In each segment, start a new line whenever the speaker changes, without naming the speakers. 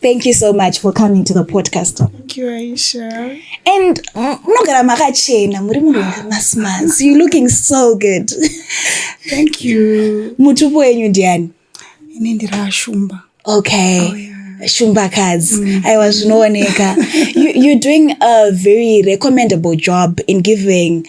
Thank you so much for coming to the podcast. Thank you, Aisha. And mm, munogara makachena muri munhu wakamasmas. You're looking so good. Thank you. Mutupo wenyu ndiani? Ini ndiri Ashumba. Okay. Oh, yeah. shumba kadzi mm. aiwa zvinooneka you're doing a very recommendable job in giving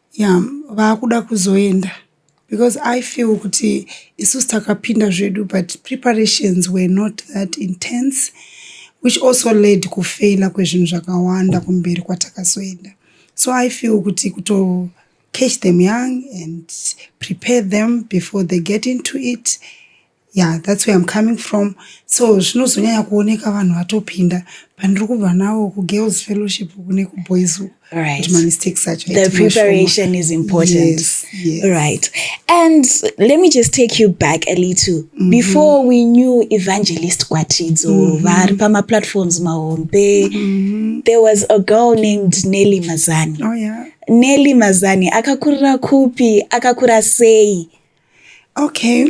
Yeah vakuda kuzoenda because I feel kuti isusu takapinda zvedu but preparations were not that intense which also led kufeila kwezvinhu zvakawanda kumberi kwatakazoenda so I feel kuti kuto catch them young and prepare them before they get into it Yeah, that's where I'm coming from. So zvinozonyanya kuoneka vanhu vatopinda pandiri kubva nawo kugirls fellowship kune kuboys uku right. kuti mamistakes acho the preparation is important yes, yes. right and let me just take you back a little mm -hmm. before we knew evangelist kwatidzo mm -hmm. vari pamaplatforms mahombe mm -hmm. there was a girl named nelly mazani oh, yeah. nelly mazani akakurira kupi akakura sei okay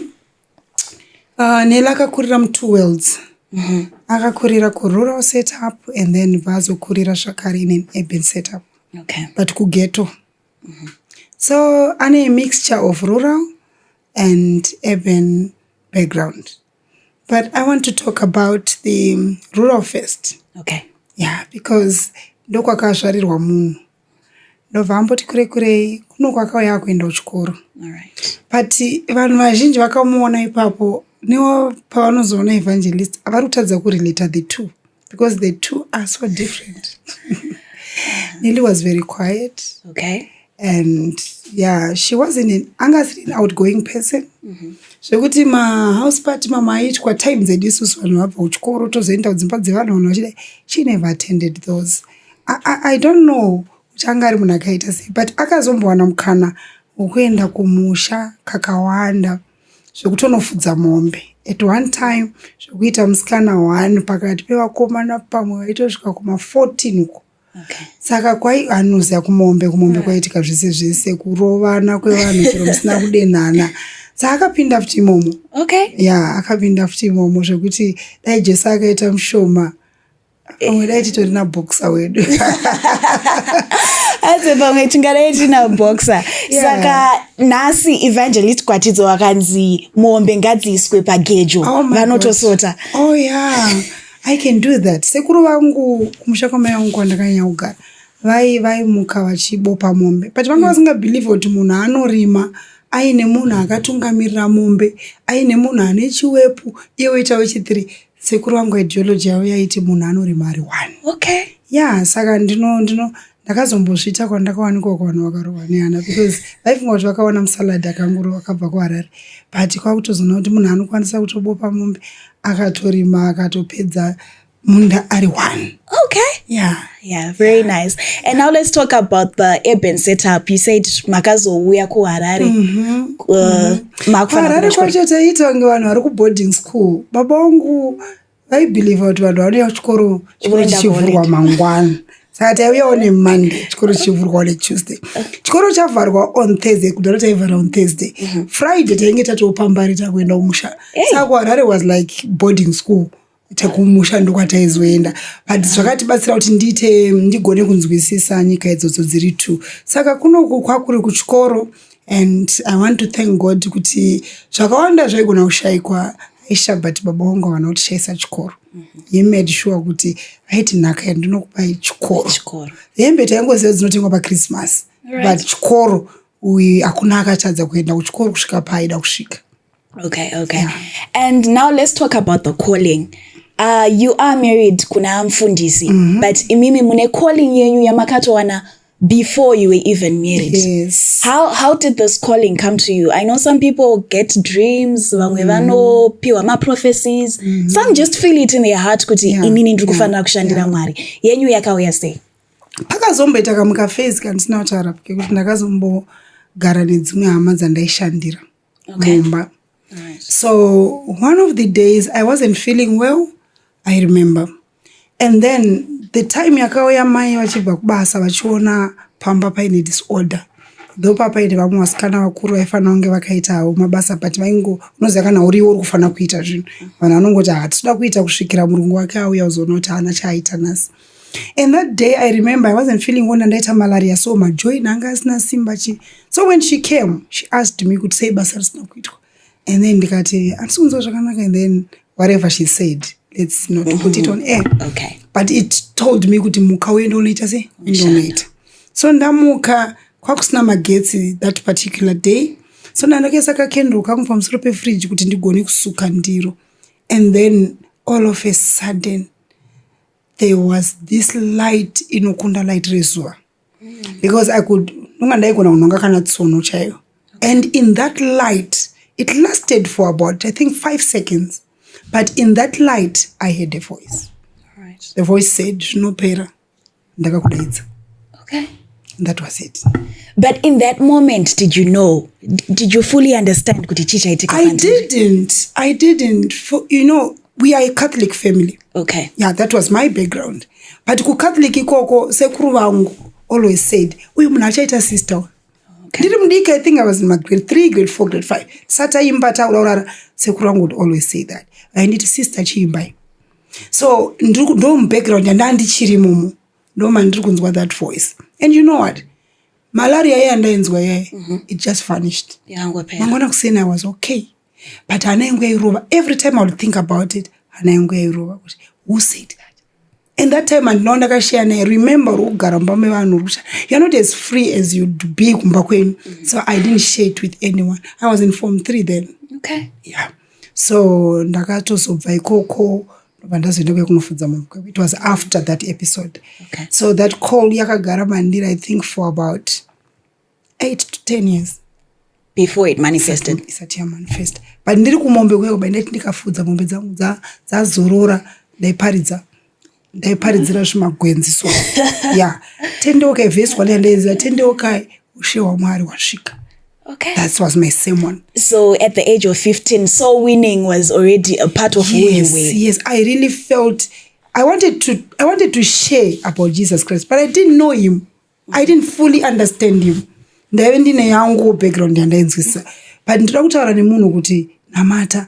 uh, nela akakurira mutwo worlds mm -hmm. akakurira kurural setup and then vazokurira zvakare in an urban setup okay. but kugeto mm -hmm. so ane mixture of rural and urban background but i want to talk about the rural first okay. yeah because ndokwakazvarirwa munhu ndobva amboti kure kurei kuno kwakauya akuenda kuchikoro but vanhu vazhinji vakamuona ipapo newo pavanozoona evangelist avari kutadza kurelata the two because the two are so different nelly was very quiet okay. and yeah she wasn't an anga asiri an outgoing person mhm. zvekuti mm -hmm. mahouse party mama aitwa time dzedu isusu vanhu vabva kuchikoro tozoenda kudzimba dzevanhu vanhu vachidai she never attended those I, I, I don't know kuti anga ari munhu akaita sei but akazombowana mukana wekuenda kumusha kakawanda zvekutonofudza mombe at one time zvekuita musikana one pakati pevakomana pamwe vaitosvika kuma 14 uko okay. saka kwai anoziva kumombe kumombe mm. kwaitika zvese zvese kurovana kwevanhu chero musina kudenhana saka akapinda futi imomo okay. ya yeah, akapinda futi imomo zvekuti dai jesu akaita mushoma dai titori naboxer wedu aze pamwe tingadai tina boxer saka nhasi evangelist kwatidzo wakanzi mombe ngadziiswe pagejo oh vanotosota oh yeah i can do that sekuru vangu kumusha kwamai vangu kwandakanyanya kugara vai vaimuka vachibopa mombe but vanga mm. vasingabhilivhe kuti munhu anorima aine munhu akatungamirira mombe aine munhu ane chiwepu iye woita wechithree sekuru vangu ideology yavo yaiti munhu anorima ari one okay ya saka ndino ndino ndakazombozviita kwandakawanikwa kuvanhu vakarohwa nehana because vaifunga kuti vakaona musalad akanguro vakabva kuharare but kwakutozoona kuti munhu anokwanisa kutobopa mombe akatorima akatopedza munda ari one Okay. Yeah. Yeah, very nice. And now let's talk about the urban setup. You said makazouya kuHarare. Mm-hmm. Uh, mm-hmm. Harare kwacho taiita kunge vanhu vari kuboarding school. Baba wangu vaibhilivha kuti vanhu vanouya kuchikoro chikoro chichivhurwa mangwana. Saka taiuyawo nemonday chikoro chichivhurwa netuesday. Chikoro chavharwa on Thursday kudaro taivhara on Thursday. Mm-hmm. Friday tainge tatopambari takuenda kumusha. Saka kuHarare was like boarding school. tekumusha ndokwataizoenda but zvakatibatsira kuti ndiite ndigone kunzwisisa nyika idzodzo dziri two saka kunoku kwakuri kuchikoro and i want to thank god kuti zvakawanda zvaigona kushayikwa aisha but baba wangu havana kutishayisa chikoro mm-hmm. he made sure kuti aiti nhaka yandinokupai chikoro hembe taingoziva dzinotengwa pachristmas but chikoro uyu hakuna akatadza kuenda kuchikoro kusvika paaida kusvika okay okay yeah. and now let's talk about the calling uh, you are married kuna mfundisi mm -hmm. but imimi mune calling yenyu yamakatowana before you were even married yes. how, how did this calling come to you i know some people get dreams vamwe mm. vanopiwa maprophecies mm -hmm. some just feel it in their heart kuti yeah. inini ndiri kufanira yeah. kushandira yeah. mwari yenyu yakauya sei pakazomboita kamuka fase kandisina kutaura kekuti ndakazombogara nedzimwe hama dzandaishandira okay. mumba right. so one of the days i wasn't feeling well i remember and then the time yakauya mai vachibva kubasa vachiona pamba paine disorder tho papaine vamwe vasikana vakuru vaifanira kunge vakaitawo mabasa but vaingo unoziva kana uriwo uri kufanira kuita zvinhu vanhu vanongoti hatitoda kuita kusvikira murungu wake auya uzoona kuti haana chaaita nhasi and that day i remember i wasn't feeling well nandaita malaria so majoin anga asina simba chi so when she came she asked me kuti sei basa risina kuitwa and then ndikati handisi kunzwa zvakanaka and then whatever she said let's not mm-hmm. put it on air okay. but it told me kuti muka uende unoita sei uende unoita so ndamuka kwakusina magetsi that particular day so ndandokaisa kakendro kangu pamusoro pefridge kuti ndigone kusuka ndiro and then all of a sudden there was this light inokunda light rezuva because i could nonga ndaigona kunhonga kana tsono chaiyo and in that light it lasted for about i think five seconds but in that light i had a voice right. the voice said zvinopera ndakakudaidza okay. that was it but in that moment did you know did you fully understand kuti chii chaitika i didn't i didn't for, you know we are a catholic family okay yeah that was my background but kucatholic ikoko sekuru vangu always said uyu munhu achaita sister ndiri okay. mudiki i think i was in my grade three grade four grade five sataimba tauraurara sekuru vangu would always say that vainditi sister chiimbai so ndomubackground yandaa ndichiri mumu ndo mandiri kunzwa that voice and you know what malaria iya ndainzwa iyaye mm -hmm. it just vanished mangona kuseni i was okay but hana yangu yairova every time i would think about it hana yangu yairova kuti who said that and that time andinao ndakashaya naye remember uri kugara mumba mevanhu uri kusha youare not as free as youd be kumba kwenyu mm -hmm. so i didn't share it with anyone i was in form three then okay. yeah so ndakatozobva ikoko ndobva ndazoenda kuya kunofudza munhu kweko it was after that episode okay. so that call yakagara mandiri i think for about eight to ten years before it manifested isati yamanifest but ndiri kumombe kuya kuba ndaiti ndikafudza mombe dzangu dzazorora ndaiparidza ndaiparidzira zvimagwenzi so ya tendeukai vhesi wandaendaenziva tendeukai ushe hwamwari wasvika Okay. That was my same one. So at the age of 15, soul winning was already a part of yes, who you were. Yes, I really felt I wanted to I wanted to share about Jesus Christ, but I didn't know him. I didn't fully understand him. ndaive ndine yangu background yandainzwisisa but ndinoda kutaura nemunhu kuti namata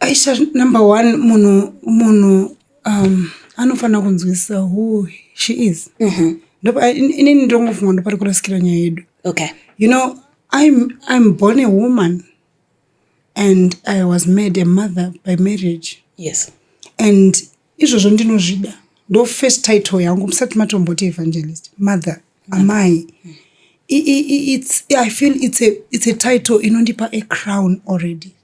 aisha number one munhu munhu um, anofanira kunzwisisa who she is mm -hmm. Ndopa, in, inini ndongofunga ndopari kurasikira nyaya yedu okay. you know I'm, i'm born a woman and i was made a mother by marriage yes and izvozvo ndinozvida ndo first title yangu musati matomboti evangelist mother mm -hmm. amai mm -hmm it's, I feel it's a, it's a title inondipa a crown already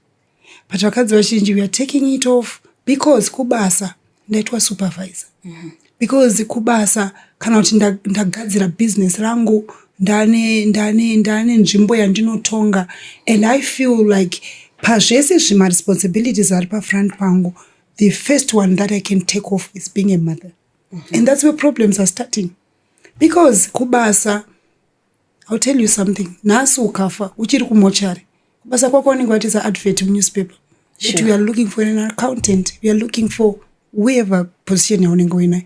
but vakadzi vazhinji weare taking it off because kubasa ndaitwa supervisor mm -hmm. because kubasa kana kuti ndagadzira nda business rangu ndane ndane ndane nzvimbo yandinotonga and i feel like pazvese zvimaresponsibilities ari pafront pangu the first one that i can take off is being a mother mm -hmm. and that's where problems are starting because kubasa I'll tell you something nhasi ukafa uchiri kumochari kubasa kwako unenge watiza advert munewspaper that sure. we are looking for an accountant we are looking for whoever position yaunenge uinayo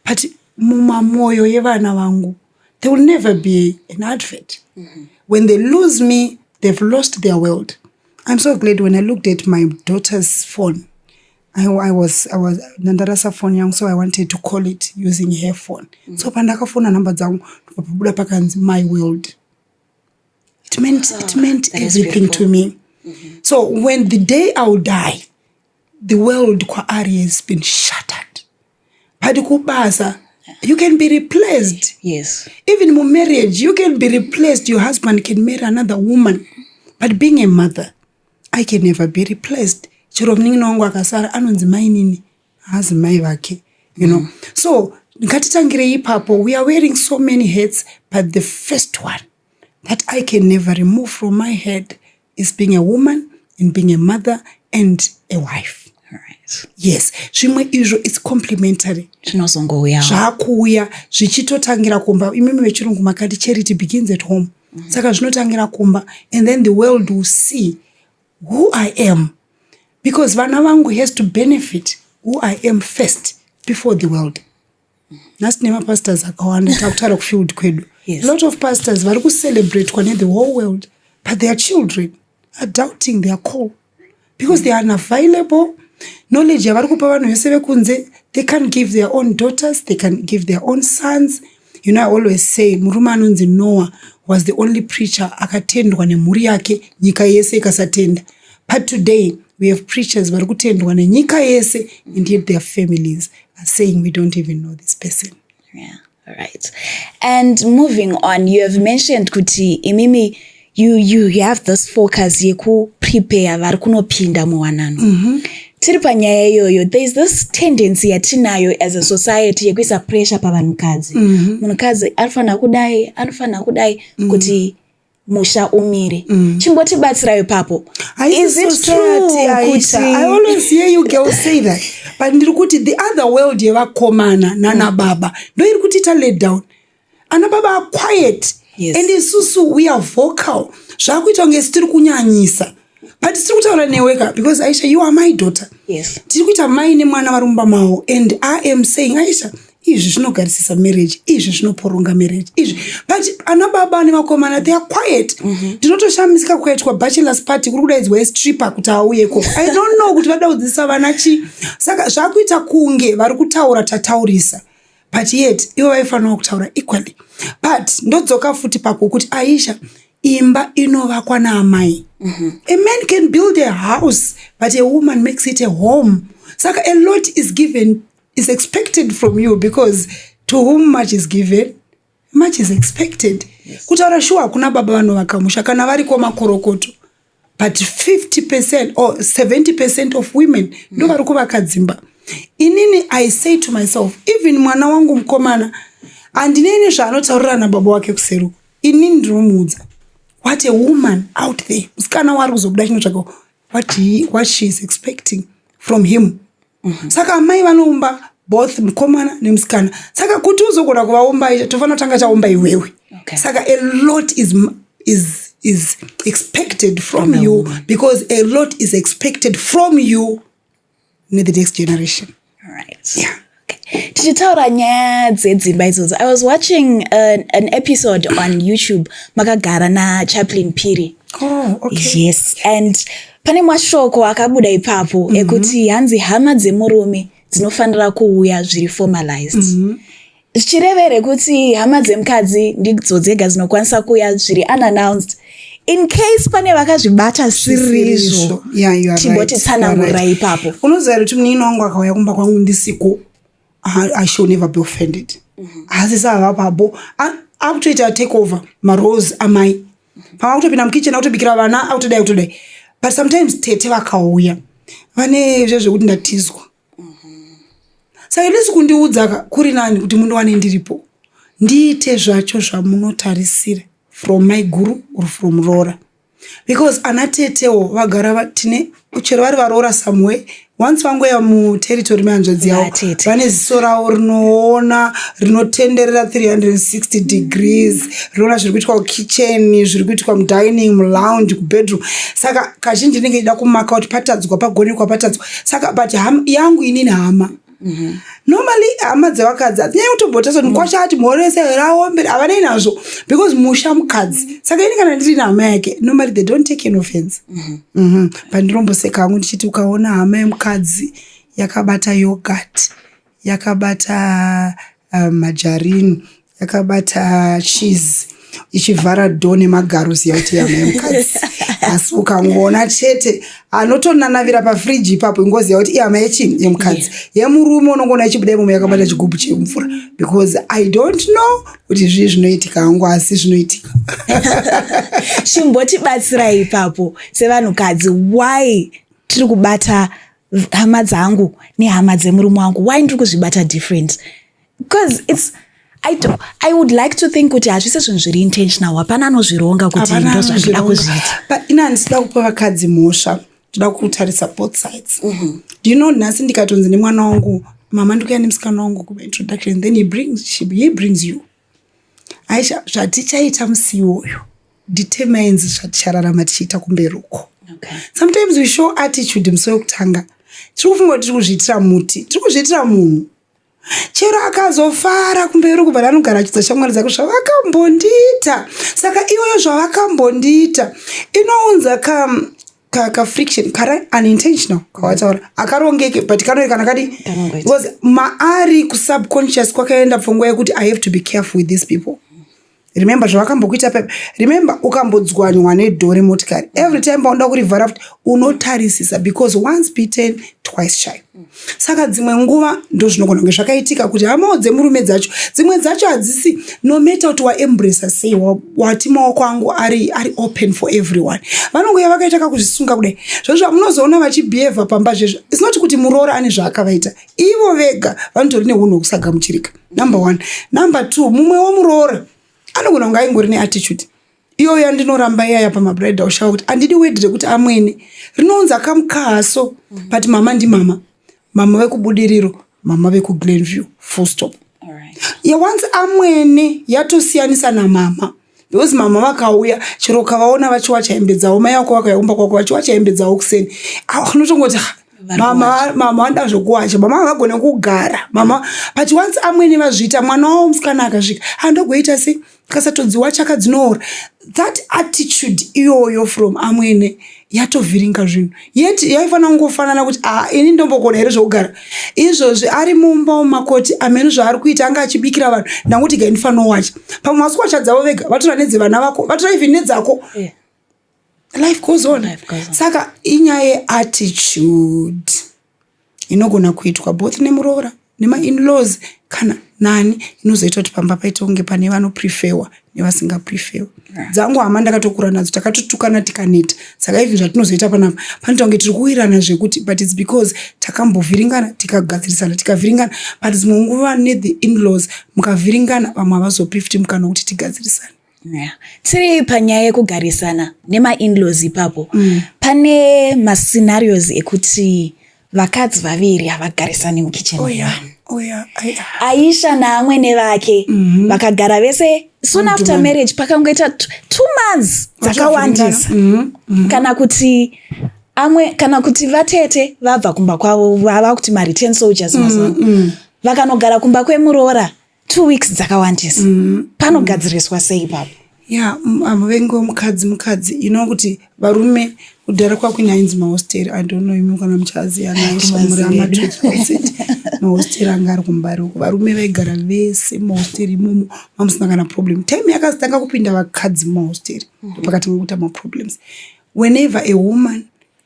but mumamwoyo yevana vangu there will never be an advert mm -hmm. when they lose me they've lost their world i'm so glad when i looked at my daughter's phone I, I was, I was, ndandarasa foni yangu so i wanted to call it using her phone mm. so pandakafona nhamba dzangu ndikapabuda pakanzi my world it meant, oh, it ah, meant everything to me mm -hmm. so when the day ill die the world kwaari has been shattered but kubasa you can be replaced yes even mu marriage you can be replaced your husband can marry another woman but being a mother I can never be replaced. Chero munin'ina wangu akasara anonzi mainini haazi mai vake. You know. Mm. So ngatitangirei ipapo we are wearing so many hats but the first one that I can never remove from my head is being a woman and being a mother and a wife. yes zvimwe izvo its complementary zvinozongouya zvakuuya zvichitotangira kumba imimi vechirungu makati charity begins at home mm-hmm. saka zvinotangira kumba and then the world will see who i am because vana vangu has to benefit who i am first before the world nhasi tine mapastors akawanda takutaura kufield kwedu yes. lot of pastors vari kucelebratwa nethe whole world but their children are doubting their call because they are unavailable knowledge yavari kupa vanhu vese vekunze they can give their own daughters they can give their own sons you know i always say murume anonzi noah was the only preacher akatendwa nemhuri yake nyika yese ikasatenda but today we have preachers vari kutendwa nenyika yese and yet their families are saying we don't even know this person yeah right and moving on you have mentioned kuti imimi you, you, you have this focus yekuprepare vari kunopinda muwanano mm -hmm tiri panyaya iyoyo there is this tendency yatinayo as a society yekuisa pressure pavanhukadzi mhm. munhukadzi mm -hmm. anofanira kudai anofanira kudai mm -hmm. kuti musha umire mm. chimbotibatsirawo ipapo but ndiri kuti the other world yevakomana nana mm. baba ndo iri kutiita let down ana baba aquiet yes. and isusu we are vocal zvakuita kunge sitiri kunyanyisa but tiri kutaura newe ka because aisha you are my daughter yes tiri kuita mai nemwana vari mumba mawo and i am saying aisha izvi zvinogarisisa marriage izvi zvinoporonga marriage izvi but ana baba nevakomana they are quiet mhm. ndinotoshamisika mm -hmm. kukaitwa bachelors party kuri kudaidzwa estripper kuti auye ko i don't know kuti vada kudzidzisa vana chii saka zvakuita kunge vari kutaura tataurisa but yet ivo vaifanirawo kutaura equally but ndodzoka futi pako kuti aisha imba inovakwa naamai mm -hmm. a man can build a house but a woman makes it a home saka a lot is given is expected from you because to whom much is given much is expected kutaura shuwa hakuna baba vanovaka musha kana variko makorokoto but 50 percent or 70 percent of women ndo vari kuvaka dzimba inini i say to myself even mwana wangu mukomana handinei nezvaanotaurira nababa wake kuseruko inini ndinomuudza what a woman out there musikana waari kuzobuda chinotsvaka what, what she is expecting from him mhm. saka amai vanoumba both mukomana nemusikana saka kuti uzogona kuvaumba tofanira tanga chaumba iwewe okay. saka a lot is, is, is expected from no. you because a lot is expected from you ne the next generation right. yeah tichitaura nyaya dzedzimba idzodzo i was watching an, uh, an episode on youtube makagara nachaplin piri oh, okay. yes and Pane mashoko akabuda ipapo mm -hmm. ekuti hanzi hama dzemurume dzinofanira kuuya zviri formalized mm -hmm zvichireva here kuti hama dzemukadzi ndidzo dzega dzinokwanisa kuuya zviri unannounced in case pane vakazvibata sirizvo timbotitsanangura ipapo unoziva kuti munini wangu akauya kumba kwangu ndisiko i shall never be offended mhm. haasi saavapabo akutoita take over marose amai pava kutopinda mukitchen akutobikira vana akutodai akutodai but sometimes tete vakauya vane zve zvekuti ndatizwa mhm. saka ndisi kundiudzaka kuri nani kuti mundiwane ndiripo ndiite zvacho zvamunotarisira from maiguru or from rora because ana tetewo vagara tine chero vari varoora someway once vangoya muterritori mehanzvadzi yavo vane ziso ravo rinoona rinotenderera 360 degrees rinoona zviri kuitwa kukitchen zviri kuitwa mudining mulounge kubedroom saka kazhinji ndinenge ichida kumaka kuti patadzwa pagonekwa patadzwa saka but yangu inini hama mhm. normally hama dzevakadzi hadzinyai kutobhota so mukwasha ati mhorese here aombere havanei nazvo because musha mukadzi saka ini kana ndiri nehama yake normally they don't take an offense mhm. Mhm. pandiromboseka hangu ndichiti ukaona hama yemukadzi yakabata yogurt yakabata uh, majarini yakabata cheese ichivhara do nemagaro ziya kuti yamai mukadzi asi ukangoona chete anotonanavira pafriji ipapo ingoziva kuti ihama yechii yemukadzi yemurume unongoona ichibuda imomo yakabata chigubhu chemvura because i don't know kuti zvii zvinoitika hangu asi zvinoitika chimbotibatsirai ipapo sevanhukadzi why tiri kubata hama dzangu nehama dzemurume wangu why ndiri kuzvibata different because it's I, do, I would like to think kuti hazvisi zvinhu zviri intentional hapana anozvironga kuti ndo zvandida kuzviita but ini handisida kupa vakadzi mhosva ndoda kutarisa both sides mm -hmm. do you know nhasi ndikatonzi nemwana wangu mama ndikuya nemusikana wangu kuba introduction then he brings, she, he brings you aisha zvatichaita musi iwoyo determines zvatichararama tichiita kumberi uko okay. sometimes we show attitude musi wekutanga tiri kufunga kuti tiri kuzviitira muti tiri kuzviitira munhu chero akazofara kumberi kubva ranogarachidza shamwari dzake zvavakambondiita saka iyoyo zvavakambondiita inounza ka kafriction kari unintentional kawataura akarongeke but kanoekana kadi bcause maari kusubconscious kwakaenda pfungwa yekuti i have to be careful with these people remember zvavakambokuita pepe remember ukambodzwanywa nedhore motikari every time paunoda kurivhara futi unotarisisa because once beaten twice shy saka dzimwe nguva ndozvinogona kunge zvakaitika kuti hamawo dzemurume dzacho dzimwe dzacho hadzisi nometa kuti waembrasa sei wati maoko angu ari, ari open for everyone vanongouya vakaita kakuzvisunga kudai zvozvo munozoona vachibehava pamba zvezvo isinoti kuti muroora ane zvaakavaita ivo vega vanotori neunhu hwekusagamuchirika number one number two mumwe womuroora anogona kunge aingori neattitude iyoyo andinoramba iyaya pamabridal shower kuti andidi word rekuti amwene rinounza kamukahaso mhm. but mama ndimama mama vekubudiriro mama vekuglenview full stop yawanzi amwene yatosiyanisa namama because mama vakauya chero ukavaona vachiwacha hembe dzavo mai vako vakauya kumba kwako vachiwacha hembe dzavo kuseni unotongoti ah, mama mama vanoda zvokuwacha mama havagone kugara mama but once amwene vazviita mwana wavo musikana akasvika handogoita ah, sei kasatodziwacha kadzinoora that attitude iyoyo from amwene yatovhiringa zvinhu yet yaifanira kungofanana kuti a ah, ini ndombokona here zvokugara izvozvi ari mumba womakoti amene zvaari kuita anga achibikira vanhu ndanguti ga ndifanowacha pamwe masuwacha dzavo vega vatora nedzevana vako vatora even nedzako yeah. life goes on saka inyaya yeattitude inogona kuitwa both nemuroora nemainlaws kana nani inozoita kuti pamba paita kunge pane vanoprefewa nevasingaprefewa dzangu hama ndakatokura nadzo takatotukana tikaneta saka even zvatinozoita panapa panoita kunge tiri kuwirana zvekuti but its because takambovhiringana tikagadzirisana tikavhiringana but dzimwe nguva nethe inlaws mukavhiringana vamwe havazopi futi mukana wekuti tigadzirisane Yeah. tiri panyaya yekugarisana nemainlaws ipapo mm. pane mascenarios ekuti vakadzi vaviri havagarisani mukichen oh, yeah. oh, yeah. aisha naamwene vake mm-hmm. vakagara mm -hmm. vese soon mm -hmm. after marriage pakangoita two months dzakawandisa mm -hmm. mm -hmm. kana kuti amwe kana kuti vatete vabva kumba kwavo vava kuti mareturn soldiers mm -hmm. mazuva mm -hmm. vakanogara kumba kwemuroora two weeks dzakawandisa mm. panogadziriswa sei ipapo ya muvengi wemukadzi mukadzi ino kuti varume kudhara kwakuina ainzi mahosteri idono imi kana muchazianaamuramaeet mahosteri anga ari kumbari uko varume vaigara vese mahosteri imomo mamusina kana problem time yakazitanga kupinda vakadzi mahosteri mhm. ndopakati ngokuita maproblems whenever a woman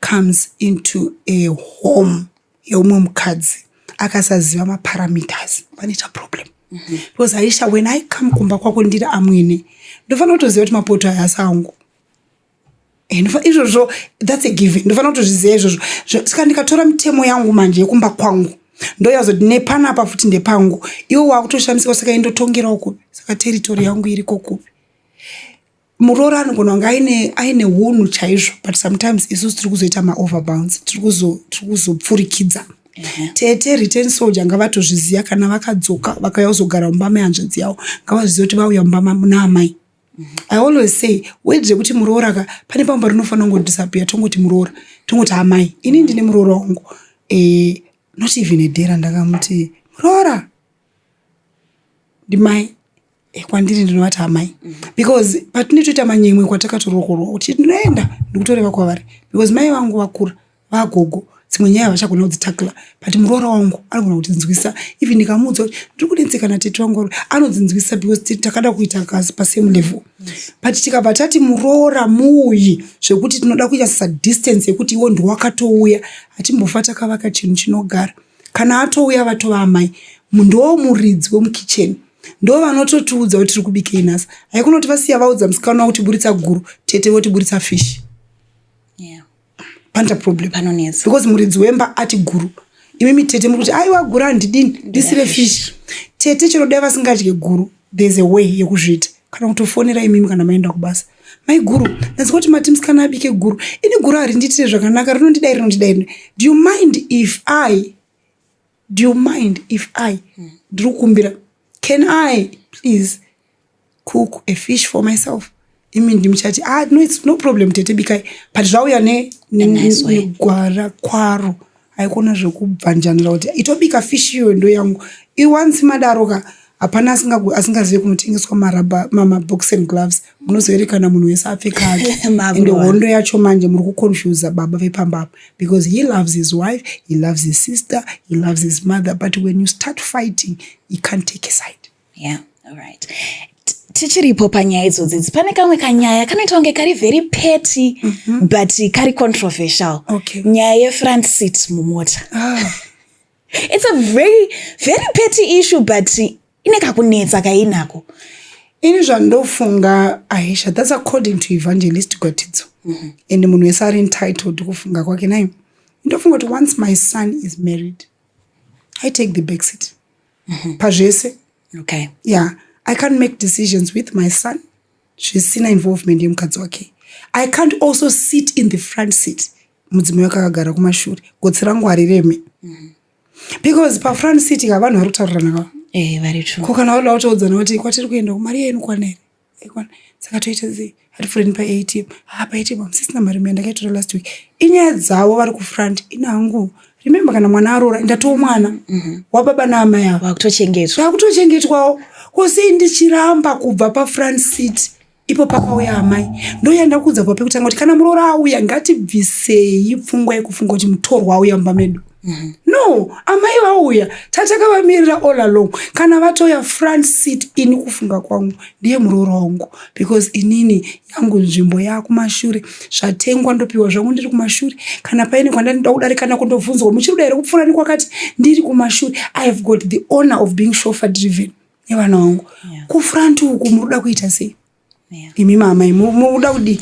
comes into a home yeumwe mukadzi akasaziva maparameters panoita problem mm -hmm. because aisha when i come kumba kwako ndiri amwene ndofanira kutoziva kuti mapoto aya asi angu eh, izvozvo thats a given ndofanira kutozviziva izvozvo saka ndikatora mitemo yangu manje yekumba kwangu ndoyazoti nepanapa futi ndepangu iwo wakutoshamisika saka indotongerawo kupi saka teritori yangu iriko kupi muroora anogona kunge aine aine hunhu chaizvo but sometimes isusu tiri kuzoita maoverbounds tiri kuzopfurikidza mhm. tete return soldier ngavatozviziva kana vakadzoka vakauya kuzogara mumba mehanzvadzi yavo ngavazviziva kuti vauya mumba naamai mhm. i always say wed zvekuti muroora ka pane pamba rinofanira kungodisappear tongoti muroora tongoti amai ini ndine muroora wangu eh, not even edera ndakamuti muroora ndimai Eh, kwandiri ndinovati amai because patine toita manyemwe kwatakatorokorwa kuti ndinoenda ndikutoreva kwavari because mai vangu vakura vagogo dzimwe nyaya vachagona kudzitakla but muroora wangu anogona kutinzwisa even ndikamuudza kuti ndiri kunetseka natete vangu vari anodzinzwisa because takada kuita kasi pasame level but tikabva tati muroora muuyi zvekuti tinoda kuita sadistance yekuti iwo ndiwakatouya hatimbofa takavaka chinhu chinogara kana atouya vatova amai mundowo muridzi wemukicheni ndo vanototiudza kuti tiri kubikei nhasi haikona kuti vasiya vaudza musikana wavo kutiburitsa guru tete votiburitsa fish yeah. panta problem Panonetsa. because muridzi wemba ati guru imi mitete muri kuti aiwa guru handidini ndisire fish tete chero dai vasingadye guru there's a way yekuzviita kana kutofonera imimi kana maenda kubasa mai guru ndanzwa kuti mati musikana abike guru ini guru harindiitire zvakanaka rinondidai rinondidai do you mind if i do you mind if i ndiri kukumbira can i please cook a fish for myself imi ndimuchati ah, no, it's no problem tete bikai but zvauya negwara kwaro haikona zvekubvanjanira kuti itobika fish iyo ndo yangu iwansi madaro ka Hapana asinga asingazive kunotengeswa marabha mama box and gloves munozoerekana munhu wese apfeka ake and hondo yacho manje muri kuconfuse baba vepamba apa because he loves his wife he loves his sister he loves his mother but when you start fighting he can't take a side yeah all right tichiripo panyaya idzodzidzi pane kamwe kanyaya kanoita kunge kari very petty mm -hmm. but kari controversial okay. nyaya yefront seat mumota ah. it's a very very petty issue but ine kakunetsa kainako ini zvandofunga aisha thats according to evangelist gwatidzo mm -hmm. and munhu wese ari entitled kufunga kwake nayo ndofunga kuti once my son is married i take the backseat mm -hmm. pazvese okay. ya yeah. i can't make decisions with my son zvisina involvement yemukadzi wake i can't also sit in the front seat mudzimai wake akagara kumashure gotsi rangu harireme mm. because pafront city ka vanhu vari kutaurana kava eh, vari tru ko kana vaoda kutoudzana kuti kwatiri kuenda kumari yenu kwanere aikwana saka toita zii hatipfurini paatm ha paatm hamusisina mari maya ndakaitora last week inyaya dzavo vari kufront inangu remembe kana mwana aroora ndatowo mwana mhm. wababa naamai avo vakutochengetwa vakutochengetwawo kosei ndichiramba kubva pafront city ipo pakauya amai ndoya ndakuudza kuva pekutanga kuti kana muroora auya ngatibvisei pfungwa yekufunga kuti mutorwa auya mumba medu mm -hmm. no amai vauya tatakavamirira all along kana vatoya front seat ini kufunga kwangu ndiye muroora wangu because inini yangu nzvimbo yakumashure zvatengwa ndopiwa zvangu ndiri kumashure kana paine kwandandida kudarika nako ndobvunzwa muchiri kuda here kupfuura nekwakati ndiri kumashure i have got the honor of being shofer driven yevana vangu yeah. kufront uku muruda kuita sei yeah. imi mamai muruda kudii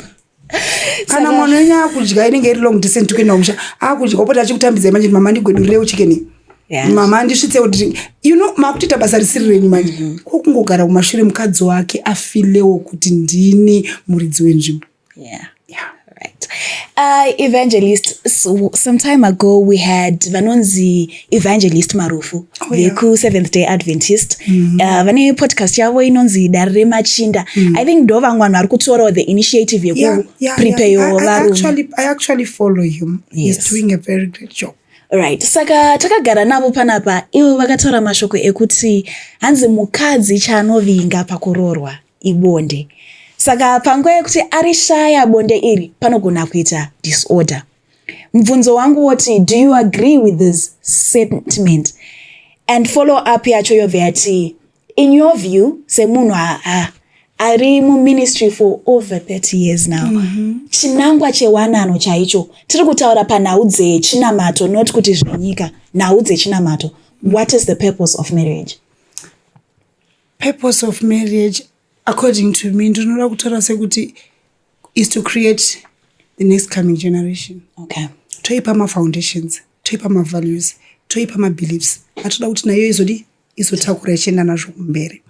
kana mwana wenyu akudya inenge iri long distance kuenda kumusha akudya opota achikutambidzai manje mama ndigwedurirei uchikeni yeah. mama andisvitse kuti you know makutoita basa risiri renyu manje mm -hmm. kokungogara kumashure mukadzi wake afilewo kuti ndini muridzi wenzvimbo yeah yeah right uh, evangelist so, some time ago we had vanonzi evangelist marufu oh, yeah. veku seventh day adventist mm -hmm. uh, vane podcast yavo inonzi dare remachinda mm -hmm. i think ndo vamwe vanhu vari kutorawo the initiative yekuprepeyo yeah, yeah, varume i actually follow him yes. he's doing a very great job right saka takagara navo panapa ivo vakataura mashoko ekuti hanzi mukadzi chaanovinga pakuroorwa ibonde saka panguva yekuti ari shaya bonde iri panogona kuita disorder mubvunzo wangu woti do you agree with this sentiment and follow up yacho yobva yati in your view semunhu ari muministry for over 30 years now mm -hmm. chinangwa chewanano chaicho tiri kutaura panhau dzechinamato not kuti zvenyika nhau dzechinamato what is the purpose of marriage purpose of marriage according to me ndinoda kutaura sekuti is to create the next coming generation okay. toipa mafoundations toipa mavalues toipa mabeliefs atoda kuti nayo izodi izotakura ichienda nazvo kumberi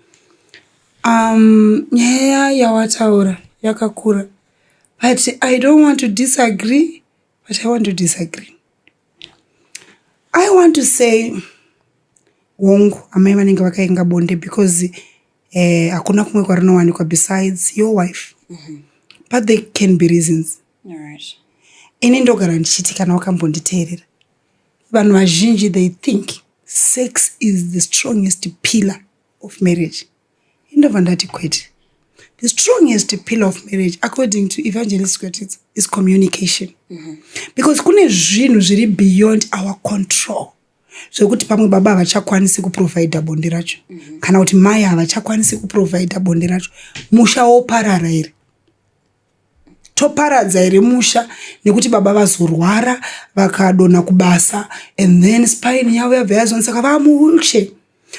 um nyaya yawataura yakakura but i don't want to disagree but i want to disagree i want to say hongu amai vanenge vakainga bonde because eh, hakuna kumwe kwarinowanikwa besides your wife mm -hmm. but there can be reasons right. ini ndogara ndichiti kana wakambonditeerera vanhu vazhinji they think sex is the strongest pillar of marriage Indobva ndati kwete. The strongest pill of marriage according to evangelist Kwetitsa is communication. Mm -hmm. Because kune zvinhu zviri beyond our control. zvekuti pamwe baba havachakwanisi kuprovidha bonde racho mm -hmm. kana kuti mai havachakwanisi kuprovidha bonde racho musha woparara here toparadza here musha nekuti baba vazorwara vakadonha kubasa and then spine yavo yabva yazoni saka vaa muwilshe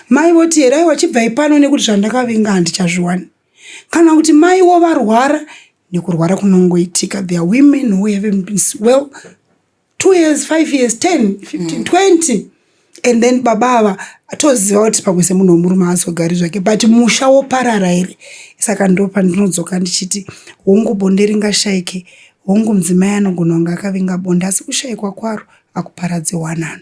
mai voti here aiwa chibvai pano nekuti zvandakavinga handichazviwani kana kuti mai wo varwara nekurwara kunongoitika their women who haven't been well two years five years ten fifteen mm. twenty and then baba ava toziva kuti pamwe semunhu wemurume azogari zvake but musha woparara here saka ndo pandinodzoka ndichiti hongu bonde ringashayike hongu mudzimai anogona kunge akavinga bonde asi kushayikwa kwaro akuparadze wanano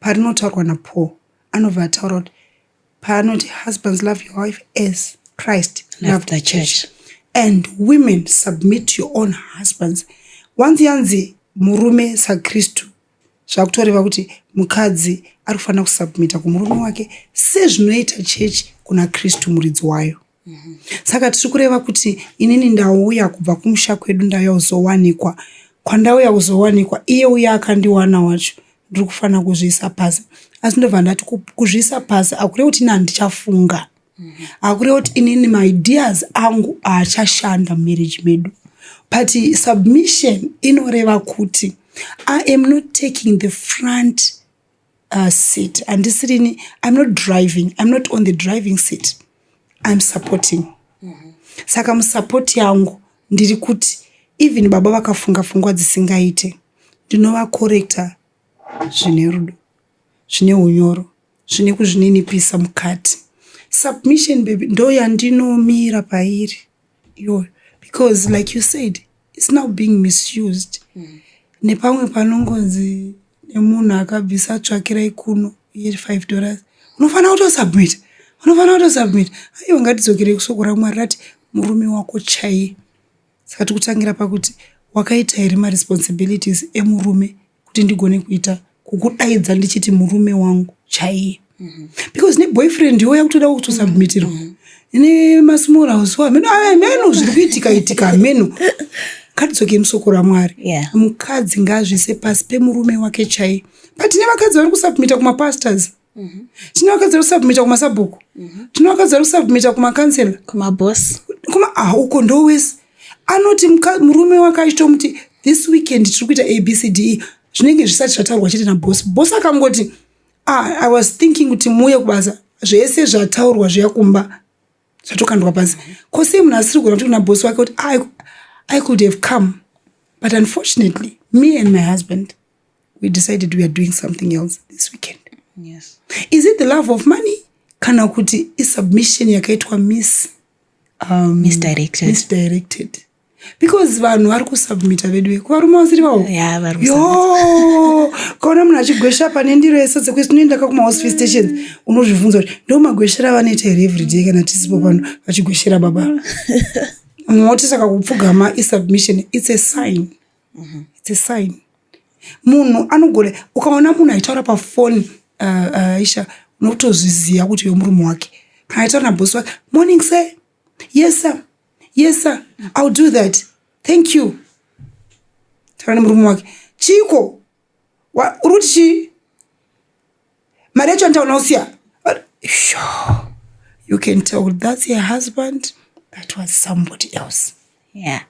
parinotaurwa naPaul anobva ataura kuti paanoti husbands love your wife as Christ loved the church and women submit to your own husbands wanzi yanzi murume sakristu zvakutoreva kuti mukadzi ari kufanira kusubmita kumurume wake sezvinoita chechi kuna kristu muridzi wayo saka tiri kureva kuti inini ndauya kubva kumusha kwedu ndauya kuzowanikwa kwandauya kuzowanikwa iye uya akandiwana wacho ndiri kufanira kuzviisa pasi asi ndobva ndati kuzviisa pasi akureva kuti ini handichafunga akureva kuti inini maideas angu aachashanda mumarriage medu but submission inoreva kuti i am not taking the front uh, seat handisirini iam not driving iam not on the driving seat iam supporting mm -hmm. saka musupport yangu ndiri kuti even baba vakafunga fungwa dzisingaite ndinovakorekta zvine rudo zvine unyoro zvine kuzvininipisa mukati submission baby ndoyandinomira pairi iyoyo because like you said its now being misused mm. nepamwe panongonzi nemunhu akabvisa tsvakirai kuno ye five dollars unofanira kutosubmita unofanira kutosubmita aiwa ngatidzokerei kusoko ramwari rati murume wako chaiye saka tikutangira pakuti wakaita here maresponsibilities emurume kuti ndigone kuita kukudaidza ndichiti murume wangu chaiye mhm. because neboyfriend yoya kutoda kutosubmitirwa mhm. ine masmall house ameno ameno zviri kuitika itika ameno katidzoke musoko ramwari yeah. mukadzi ngazvise pasi pemurume wake chaiye but nevakadzi vari kusubmita kumapastors yeah. Mhm. tinoakadza kusubmita kumasabhuku mhm. tinoakadza kusubmita kumacancela kumabos kuma ah, uko ndowese anoti murume wake achitomuti this weekend tiri kuita abcde zvinenge zvisati zvataurwa chete nabos bos akangoti ah, i was thinking kuti muuye kubasa zvese zvataurwa zviya kumba zvatokandwa pasi mhm. ko sei munhu asiri kugona kuti kuna bos wake kuti ah, i could have come but unfortunately me and my husband we decided we are doing something else this weekend yes. is it the love of money kana kuti isubmission yakaitwa miss um, misdirected. misdirected because vanhu vari kusubmita vedu veku varume vasiri vavo Yeah, vari yo kaona munhu achigwesha pane ndiro yese dzekuti tinoendaka kumahospice stations unozvibvunza kuti ndo magweshera avanoita here everyday kana tisipo pano vachigweshera baba moti saka kupfugama isubmission its a sign mm-hmm. it's a sign munhu anogona ukaona munhu aitaura pafoni uh, uh, aisha unotozviziva kuti uyo murume wake kana aitaura nabosi wake morning sir yes sir yes sir ill do that thank you taura nemurume wake chiko uri kuti chii mari yacho antaona usiya sure. you can tell that's your husband that was somebody else yeah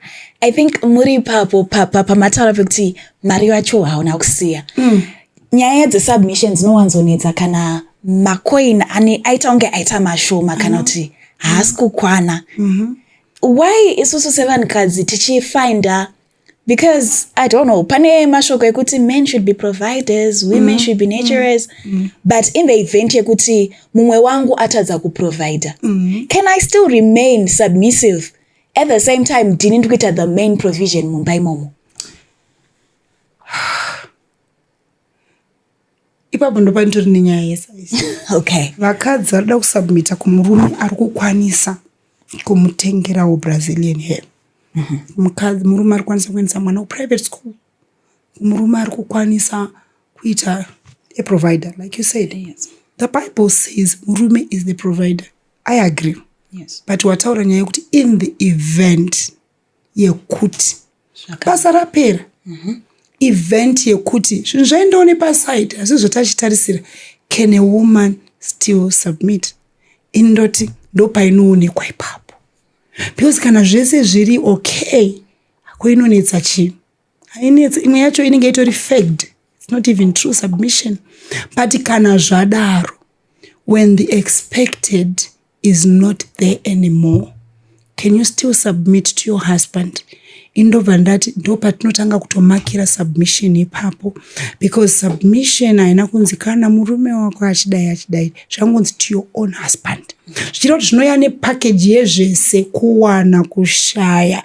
i think muri ipapo pamataura pekuti mari yacho hauna kusiya mm. nyaya dzesubmission dzinowanzonetsa kana macoin ane aita kunge aita mashoma kana mm-hmm. kuti haasi kukwana mm-hmm. why isusu sevanhukadzi tichifinda because i don't know pane mashoko ekuti men should be providers women mm. should be naturers mm. mm. but in the event yekuti mumwe wangu atadza kuprovider mm. can i still remain submissive at the same time ndini ndikuita the main provision mumba imomo ipapo ndo panditori nenyaya yesaizi okay vakadzi vanoda kusubmita kumurume ari kukwanisa kumutengerawo brazilian hair mhm. mukadzi murume ari kukwanisa kuendesa mwana kuprivate school murume ari kukwanisa kuita a provider like you said yes. the bible says murume is the provider i agree yes. but wataura nyaya yekuti in the event yekuti basa rapera mhm. event yekuti zvinhu zvaendawo nepaside asi zvotachitarisira can a woman still submit ini ndoti ndopainoonekwa ipapo because kana zvese zviri okay ko inonetsa chii hainetsi imwe yacho inenge itori fact its not even true submission but kana zvadaro when the expected is not there anymore can you still submit to your husband indobva ndati ndo patinotanga kutomakira submission ipapo because submission haina kunzi kana murume wako achidai achidai zvangonzi to your own husband zvichira kuti zvinoya nepakeji yezvese kuwana kushaya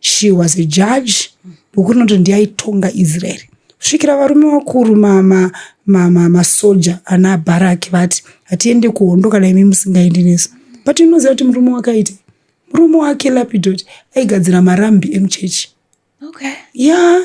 she was a judge boku rinoti ndiyaitonga israeri kusvikira varume vakuru masoja ma, ma, ma ana bharaki vati hatiende kuhondo kana imi musingaendi nesu but inoziva kuti murume wakaita murume wake lapidoti aigadzira marambi emuchechi okay. yeah.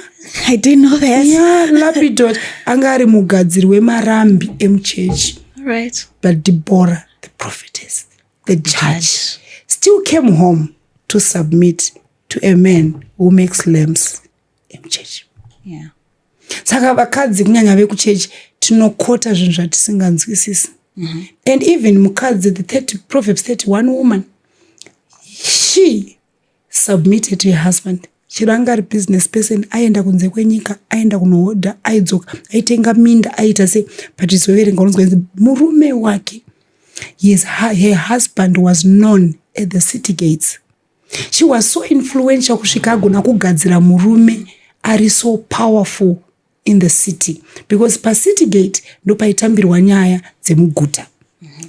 I didn't know that. Yeah, lapidot anga ari mugadziri wemarambi emuchechi right. but debora the prophetess the judge still came home to submit to a man who makes lamps emuchechi yeah. saka vakadzi kunyanya vekuchechi tinokota zvinhu zvatisinganzwisisi mm -hmm. and even mukadzi the 30, proverbs 31 woman she submitted to your husband chero anga ari business person aienda kunze kwenyika aienda kunohodha aidzoka aitenga minda aiita sei but izoverenga unonzwa inzi murume wake his, her husband was known at the city gates she was so influential kusvika agona kugadzira murume ari so powerful in the city because pacity gate ndopaitambirwa nyaya dzemuguta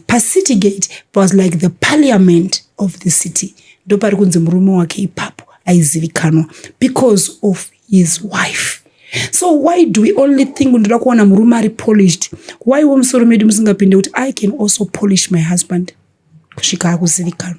pacity gate was like the parliament of the city ndopari kunzi murume wake ipapo aizivikanwa because of his wife so why do we only think ndoda kuwana murume ari polished why wemusoro medu musingapinde kuti i can also polish my husband kusvika akuzivikanwa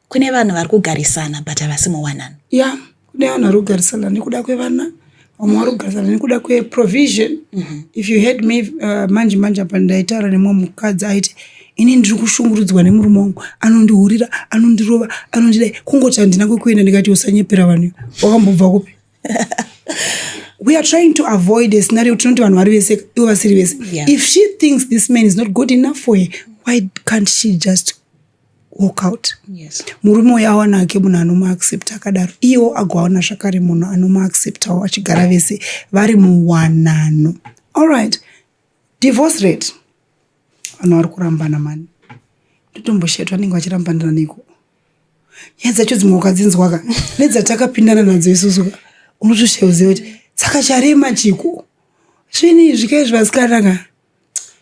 Kune vanhu vari kugarisana but havasi muwanano. Yeah, kune vanhu vari kugarisana nekuda kwevana vamwe vari kugarisana nekuda kweprovision mm -hmm. if you heard me uh, manje manje apa ndaitaura nemumwe mukadzi aiti ini ndiri kushungurudzwa nemurume wangu anondihurira anondirova anondidai kungoti handina kwekuenda ndikati usanyepera vanhu wakambobva kupi we are trying to avoid a scenario tinoti vanhu vari vese ivo vasiri vese yeah. if she thinks this man is not good enough for her why can't she just walk out yes. murume uyo awana ake munhu anomuaccepta akadaro iyewo agoawana zvakare munhu anomuacceptawo achigara vese vari muwanano allright divorce rate vanhu vari kurambana mani ndotomboshetwa anenge vachirambanira neko nyaya dzacho dzimwe wakadzinzwaka nedzatakapindana nadzo isusu unotosheoziva kuti saka charema chiko svini zvikaizvi vasikanaka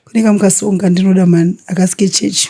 kuneka mukasonga ndinoda mani akasike chechi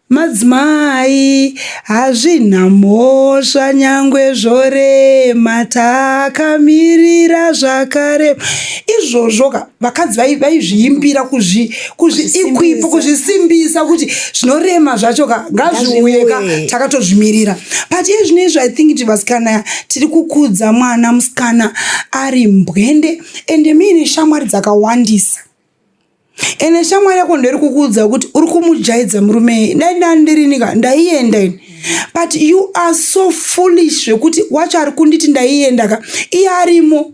Madzimai hazvina mhosva nyangwe zvorema takamirira zvakarema izvozvo ka vakadzi vaizviimbira kuzviikwipa kuzvisimbisa kuti zvinorema zvacho ka ngazviuye ka takatozvimirira but iye zvino izvo i think ti vasikana tiri kukudza mwana musikana ari mbwende ende muine shamwari dzakawandisa ene shamwari yako ndoiri kukuudza kuti uri kumujaidza murumei dai ndani ndirinika ndaienda ini but you are so foolish zvekuti wacho ari kunditi ndaienda ka iye arimo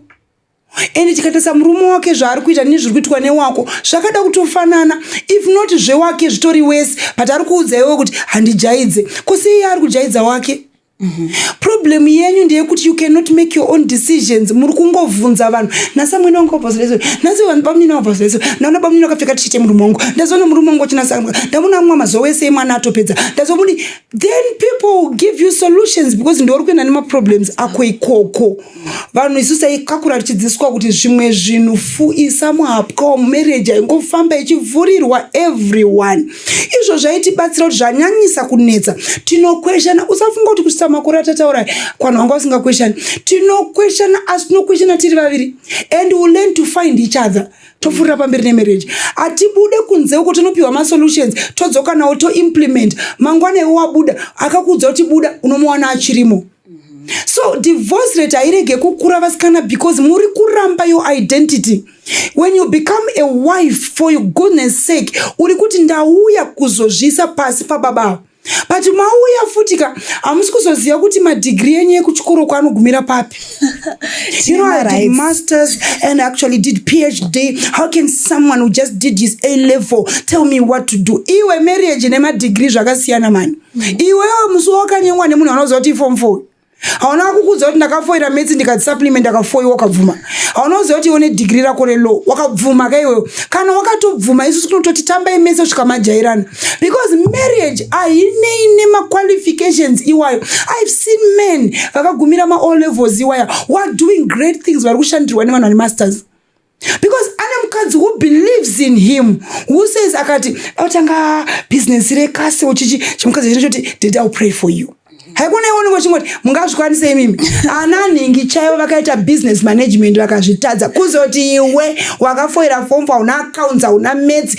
ende tikatarisa murume wake zvaari kuita nezviri kuitwa newako zvakada kutofanana if not zvewake zvitori wese but ari kuudza iwe kuti handijaidze kosi iye ari kujaidza wake Mhm. problem yenyu ndeyekuti you cannot make your own decisions muri kungovhunza vanhu nhasi amwene wangu wabvazileso nhasi vanhu bamunini wabvazileso ndaona bamunini wakapfeka tichite murume wangu ndazoona murume wangu wachinasa ndaona amwa mazuva wese emwana atopedza ndazomuni then people give you solutions because ndiwari kuenda nemaproblems ako ikoko vanhu isu taikakura tichidzidziswa kuti zvimwe zvinhu fuisa muhapwa marriage aingofamba ichivhurirwa everyone izvo zvaitibatsira kuti zvanyanyisa kunetsa tinokweshana usafunga kuti kusvitsa makore atataura kwanhu wanga usingakweshani tinokweshana asi tinokweshana tiri vaviri and will learn to find each other topfuurira pamberi nemarriage hatibude kunze uko tonopiwa masolutions todzokanawo toimplement mangwana iwe wabuda akakuudza kuti buda unomuwana achirimo so divorce rate hairege kukura vasikana because muri kuramba your identity when you become a wife for your goodness sake uri kuti ndauya kuzozviisa pasi pababa avo but mauya futi ka hamusi kuzoziva kuti madigiri enyu ekuchikoro kwaanogumira papi masters and actually did phd how can someone who just did his a level tell me what to do iwe marriage nemadigiri zvakasiyana mani iwewe musi wakanyengwa nemunhu anoziva kuti ifom four hauna kukuudza kuti ndakafoira metsi ndikati supplement ndakafoiwa wakabvuma hauna kuziva kuti iwe nedigiri rako relaw wakabvuma ka iwewe kana wakatobvuma isusu tinototi tambai mese kusvika majairana because marriage hainei nemaqualifications iwayo ive seen men vakagumira maall levels iwaya wadoing great things vari kushandirwa nevanhu vane masters because ane mukadzi who believes in him who says akati autanga business rekasi uchichi chimukadzi chino choti dede ill pray for you haikona iwonenge uchingoti mungazvikwanise imimi ana nhingi chaivo vakaita business management vakazvitadza kuzoti iwe wakafoira fomfa una accounts hauna metsi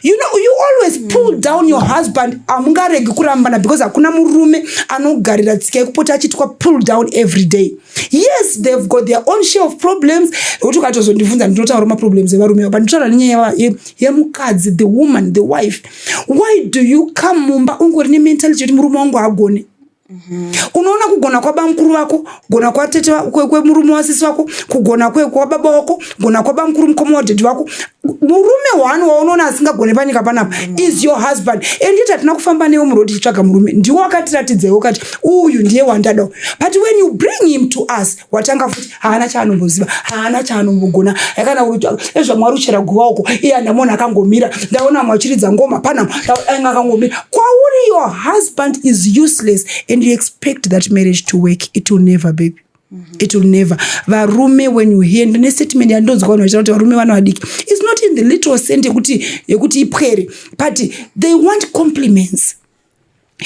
you know you always pull down your husband hamungaregi kurambana because hakuna murume anogarira tsika yekupota achitwa pull down every day yes they've got their own share of problems ekuti ukatozondibvunza ndinotaura maproblems evarume avo but nditaura nenyaya yemukadzi the woman the wife why do you come mumba ungori nementality yekuti murume wangu agone Mm-hmm. unoona kugona kwabamukuru vako kugona kwatete kwemurume wasisi vako kugona kwababa wako kugona kwabamukuru mukoma wadhedhi vako murume one waunoona asingagone panyika panapa mm. is your husband and it hatina kufamba newe muroad tichitsvaga murume ndiwo wakatiratidzewo kati uyu ndiye wandadao but when you bring him to us watanga futi haana chaanomboziva haana chaanombogona yakana ezvamwari uchera guva uko iye andamona akangomira ndaona amwe achiridza ngoma panam anga akangomira kwauri your husband is useless and you expect that marriage to work it will never baby Mm-hmm. it will never varume when you hear ndine statement yandonzwa vanhu vachita kuti varume vana vadiki is not in the little cent yekuti yekuti ipwere but they want compliments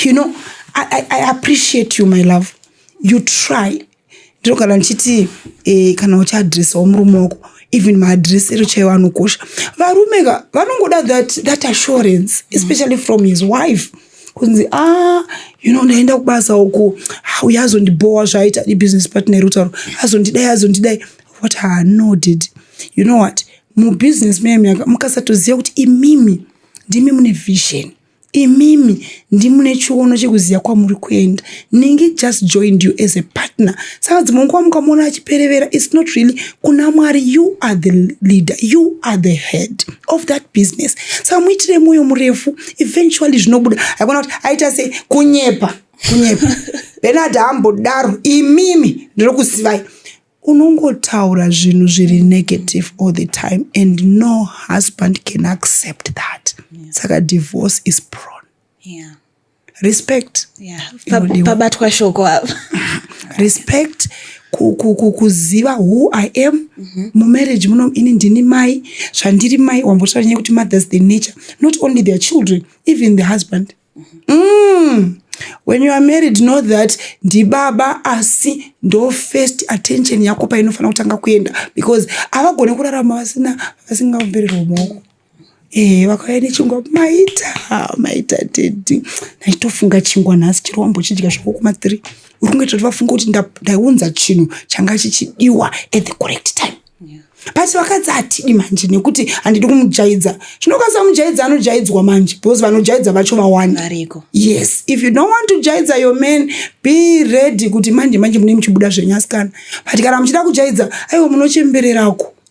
you know I, I, i appreciate you my love you try ndiro kana ndichiti eh, kana uchiadressawo murume wako even maadress ero chaiwo anokosha varume ka vanongoda that, that assurance especially from his wife mm -hmm. kunzi a ah, you know ndaenda kubasa uku ah, uye azondibhowa zvaaita ibusiness partner iri kutaura azondidai azondidai what her no did you know what mubusiness mem yanga mukasatoziva kuti imimi ndimi mune vision imimi ndimune chiono chekuziva kwamuri kuenda ningi just joined you as a partner saka dzimwe nguva mukamona achiperevera its not really kuna mwari you are the leader you are the head of that business saka muitire mwoyo murefu eventually zvinobuda haikona kuti aita sei kunyepa kunyepa benard hambodaro imimi ndinokuzivai unongotaura zvinhu zviri negative all the time and no husband can accept that yeah. saka divorce is prone yeah. respect yeah. pabatwa shoko apa respect kuziva who i am mm -hmm. mumarriage muno ini ndini mai zvandiri mai wambotaura nyaya kuti mothers the nature not only their children even the husband mm -hmm. mm. when you are married know that ndibaba asi ndo first attention yako painofanira kutanga kuenda because havagone kurarama vasina vasingaombererwa maoko Eh, vakauya nechingwa maita maita dedi ndaitofunga chingwa nhasi chiri wambochidya zvako kuma three uri kungoita kuti vafunga kuti ndaunza chinhu changa chichidiwa at the correct time basi vakadzi hatidi manje nekuti handidi kumujaidza zvinokwanisa kumujaidza anojaidzwa manje because vanojaidza vacho vawanda yes if you don't want to jaidza your man be ready kuti manje manje mune muchibuda zvenyasikana but kana muchida kujaidza aiwa munochembererako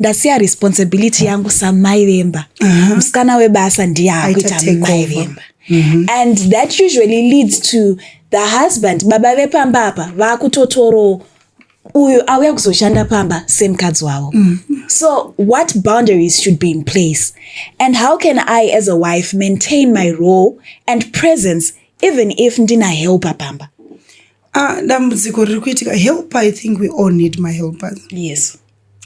ndasiya responsibility yangu samai vemba musikana webasa ndiye akuita mai vemba mhm. and that usually leads to the husband baba vepamba apa vakutotorowo uyu auya kuzoshanda pamba semukadzi wavo mhm. so what boundaries should be in place and how can i as a wife maintain my role and presence even if ndina helpa pamba ah, dambudziko riri kuitika helper i think we all need my helpers yes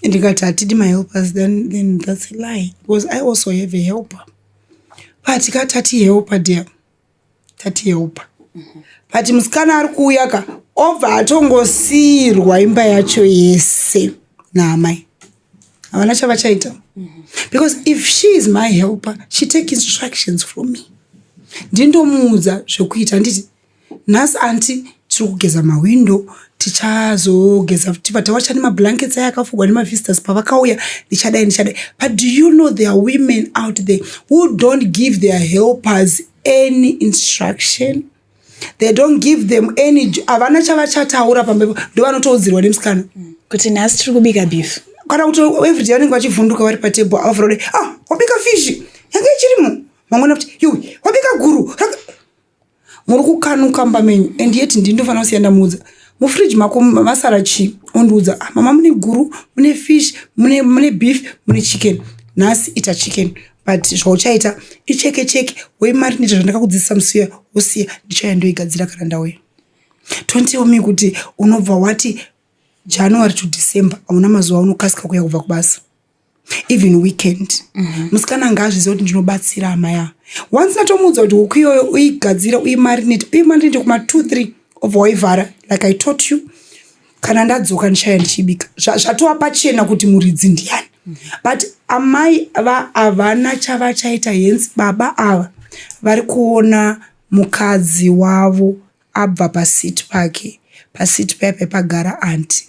ndikati hatidi mahelpers then, then thats a lie because i also have a helper but ka tati helper dear tati helper but musikana ari kuuya ka obva atongosiirwa imba yacho yese naamai havana chavachaita because if she is my helper she take instructions from me ndindomuudza zvekuita handiti nhasi anti tiri kugeza mahwindo tichazogeza futi but wacha nemablankets aya akafugwa nemavisitors pavakauya ndichadai ndichadai but do you know there are women out there who don't give their helpers any instruction they don't give them any havana chavachataura pambepo ndo vanotoudzirwa nemusikana kuti nhasi tiri kubika beef kana kuti everyday vanenge vachivhunduka vari patable avafura kuti ah wabika fish yange ichirimo vamwena kuti yui wabika guru muri kukanuka mba menyu and yet ndini ndofanira kusiya ndamuudza mufridge mako masara chii ondiudza ah, mama mune guru mune fish mune, mune beef mune chicken nhasi ita chicken but zvauchaita icheke cheke wei mari ndita zvandakakudzidzisa musiya wosiya ndichauya ndoigadzira kana ndauya don't tell me kuti unobva wati january to december hauna mazuva unokasika kuya kubva kubasa even weekend mhm. musikana mm -hmm. ngaazviziva kuti ndinobatsira amaya once ndatomuudza kuti huku iyoyo uigadzire uimarinate uimarinate kuma two three obva waivhara like i taught you kana ndadzoka ndichaya ndichibika zvatova pachena kuti muridzi ndiyani mhm. but amai va havana chavachaita hence baba ava vari kuona mukadzi wavo abva pasiti pake pasiti paye paipagara anti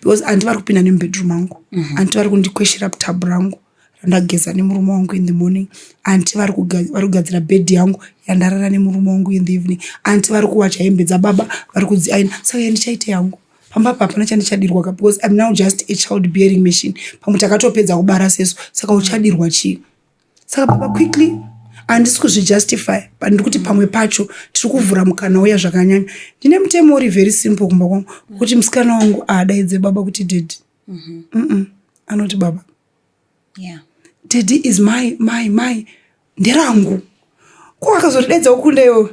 because anti vari kupinda nemubedroom angu mm -hmm. anti vari kundikweshera putabu rangu randageza nemurume wangu in the morning anti vari kugadzira bed yangu yandarara nemurume wangu in the evening anti vari kuwacha hembe dzababa vari kudziaina saka yandichaite yangu pamba apa hapana chandichadirwa ka because im now just a child bearing machine pamwe takatopedza kubara sesu saka uchadirwa chii saka baba quickly handisi kuzvijustify but ndiri kuti pamwe pacho tiri kuvhura mukana uya zvakanyanya ndine mutemo uri very simple kumba kwangu kuti musikana wangu aadaidze baba kuti dedi mm -hmm. anoti baba yeah. dedi is my my my nderangu ko akazotidaidza ukunda iwo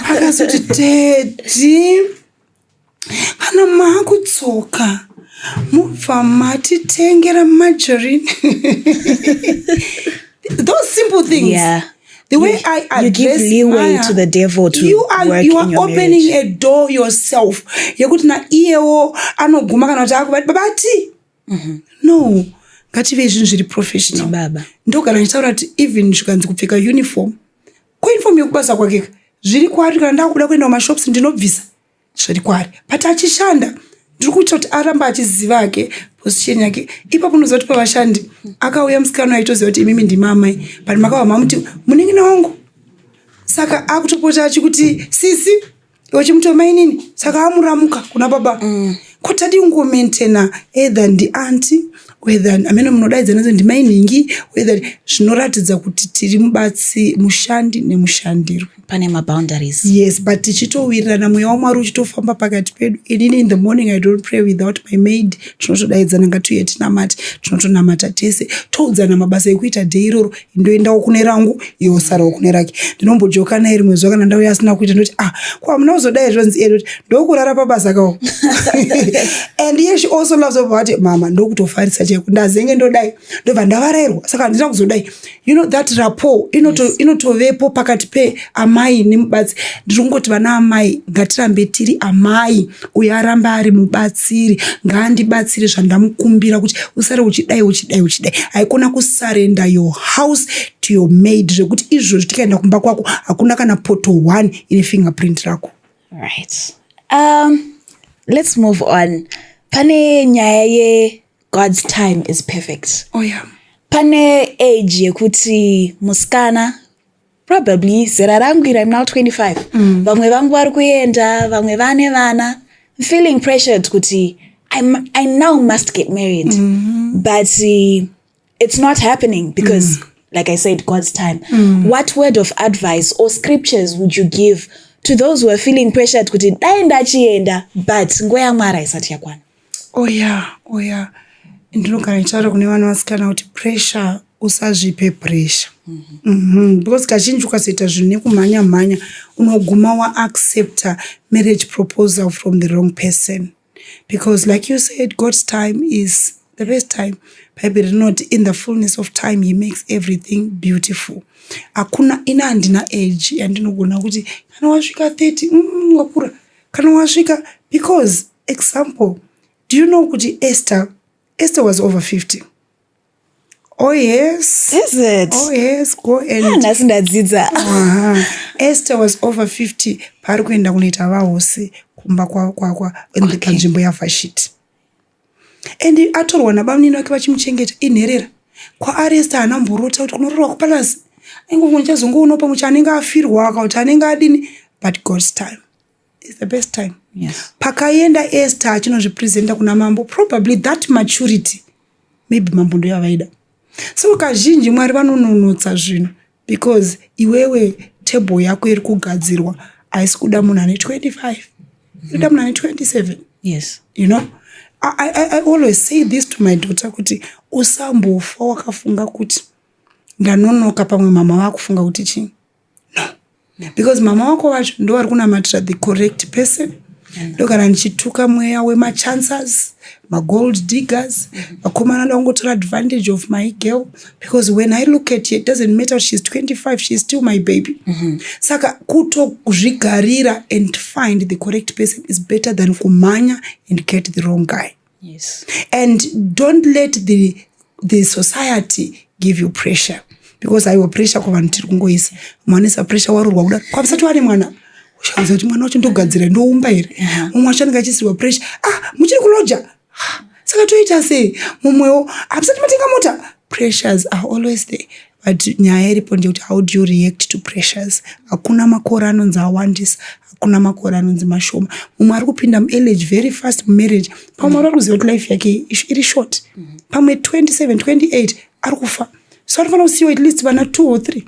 akazoti dedi kana maakudzoka mubva matitengera margarine those simple things yeah. the way you, i address, you give leeway Maya, to the devil to you are, work you are in your opening marriage. a door yourself yekuti na iyewo anoguma kana kuti akubati babati mm-hmm. no ngativei zvinhu zviri professional baba ndo kana ndichitaura kuti even zvikanzi kupfeka uniform ko uniform yekubasa kwakeka zviri kwari kana ndakuda kuenda kumashops ndinobvisa zviri kwari but achishanda ndiri kuita kuti aramba achiziva ake position yake ipapo unoziva kuti pavashandi akauya musikana aitoziva kuti imimi ndimamai but makava mamuti munenge nawangu saka akutopota achikuti sisi iwe chimutema inini saka amuramuka kuna baba mm. ko tadi ungomaintena either ndianti whether amene munodaidza nozi ndimai nhingi whether zvinoratidza kuti tiri mubatsi mushandi nemushandirwi pane maboundaries yes but tichitowirirana mweya wamwari uchitofamba pakati pedu inini in the morning i don't pray without my maid tinotodaidzana ngatiuye tinamati tinotonamata tese toudzana mabasa ekuita dei iroro ndoendawo kune rangu iwe usarawo kune rake ndinombojoka naye rimwe zuva kana ndauya asina kuita ndoti ah ko hamuna kuzodai zvonzi iye ndoti ndokurara pabasa kawo and iye she also loves over vati mama ndokutofarisa chaiko ndazenge ndodai ndobva ndavarairwa saka handina kuzodai you know that rapport inoto- inotovepo pakati pe amai nemubatsi ndiri kungoti vana amai ngatirambe tiri amai uyo aramba ari mubatsiri ngaandibatsire zvandamukumbira kuti usare uchidai uchidai uchidai haikona kusarenda your house to your maid zvekuti izvozvi tikaenda kumba kwako hakuna kana poto one ine fingerprint rako right um, let's move on pane nyaya ye god's time is perfect oh, yeah. pane age yekuti musikana probably zera rangu iri im now 25 mm. vamwe vangu vari kuenda vamwe vane vana im feeling pressured kuti I'm, i now must get married mm -hmm. but uh, it's not happening because mm. like i said god's time mm. what word of advice or scriptures would you give to those who are feeling pressured kuti dai ndachienda but nguva yamwari haisati yakwana Oya oya ndinogara ndichitaura kune vana vasikana kuti pressure usazvipe pressure mm -hmm. Mm -hmm. because kazhinji ukazoita zvinhu nekumhanya mhanya unoguma waaccepta marriage proposal from the wrong person because like you said god's time is the best time bible rinoti in the fullness of time he makes everything beautiful hakuna ina handina age yandinogona kuti kana wasvika 30 mm, wakura kana wasvika because Example, do you know kuti Esther, Esther was over 50. Oh yes. Is it? Oh yes, go and. Ah, nhasi ndadzidza. Aha. Esther was over 50 paari kuenda kunoita vahosi kumba kwavo kwakwa panzvimbo yavhashiti. And atorwa nabamunini vake vachimuchengeta inherera. Kwaari Esther haana mborota kuti kunororwa kupalazi. Aingongo ndichazongoonawo pamwe kuti anenge afirwa akakuti anenge adini but God's time. is the best time yes. pakaenda ester achinozvipresenta kuna mambo probably that maturity maybe mambo ndo yavaida so kazhinji mwari vanononotsa zvinhu because iwewe table yako iri kugadzirwa haisi kuda munhu ane 25 inoda munhu ane 27 yes you know I, I, i always say this to my daughter kuti usambofa wakafunga kuti ndanonoka pamwe mama vakufunga kuti chii no because mama wako wacho ndovari kunamatira the correct person ndogara ndichituka mweya wemachancers magold diggers vakomana nda kungotora advantage of my girl because when i look at it doesn't matter kuti she's 25 she's still my baby mm -hmm. saka kutozvigarira and find the correct person is better than kumhanya and get the wrong guy yes. and don't let the, the society give you pressure because aiwa pressure kwavanhu tiri kungoisa mwanisa pressure warurwa kuda kwavisati wane mwana ushauza kuti mwana wacho ndogadzira ndoumba here mumwe wacho anenge achisirwa pressure ah muchiri kuloja saka toita sei mumwewo hapisati matenga mota pressures are always there but nyaya iripo ndeyekuti how do you react to pressures hakuna makore anonzi awandisa hakuna makore anonzi mashoma mumwe ari kupinda muelage very fast mumarriage pamwe mwari ari kuziva kuti life yake iri short pamwe 27 28 ari kufa so anofanira kusiyiwa at least vana two or three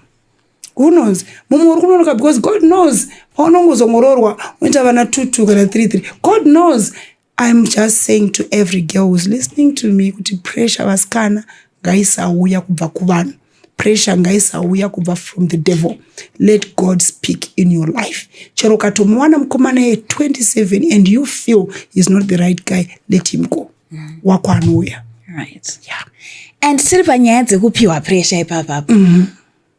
who knows mumwe uri kunonoka because god knows paunongozongororwa unoita vana two two kana three three god knows I'm just saying to every girl who's listening to me kuti pressure vasikana ngaisauya kubva kuvanhu pressure ngaisauya kubva from the devil let god speak in your life chero ukatomuwana mukomana ye 27 and you feel he's not the right guy let him go mm. wako anouya right. yeah. and tiri panyaya dzekupiwa pressure ipapapo mm -hmm.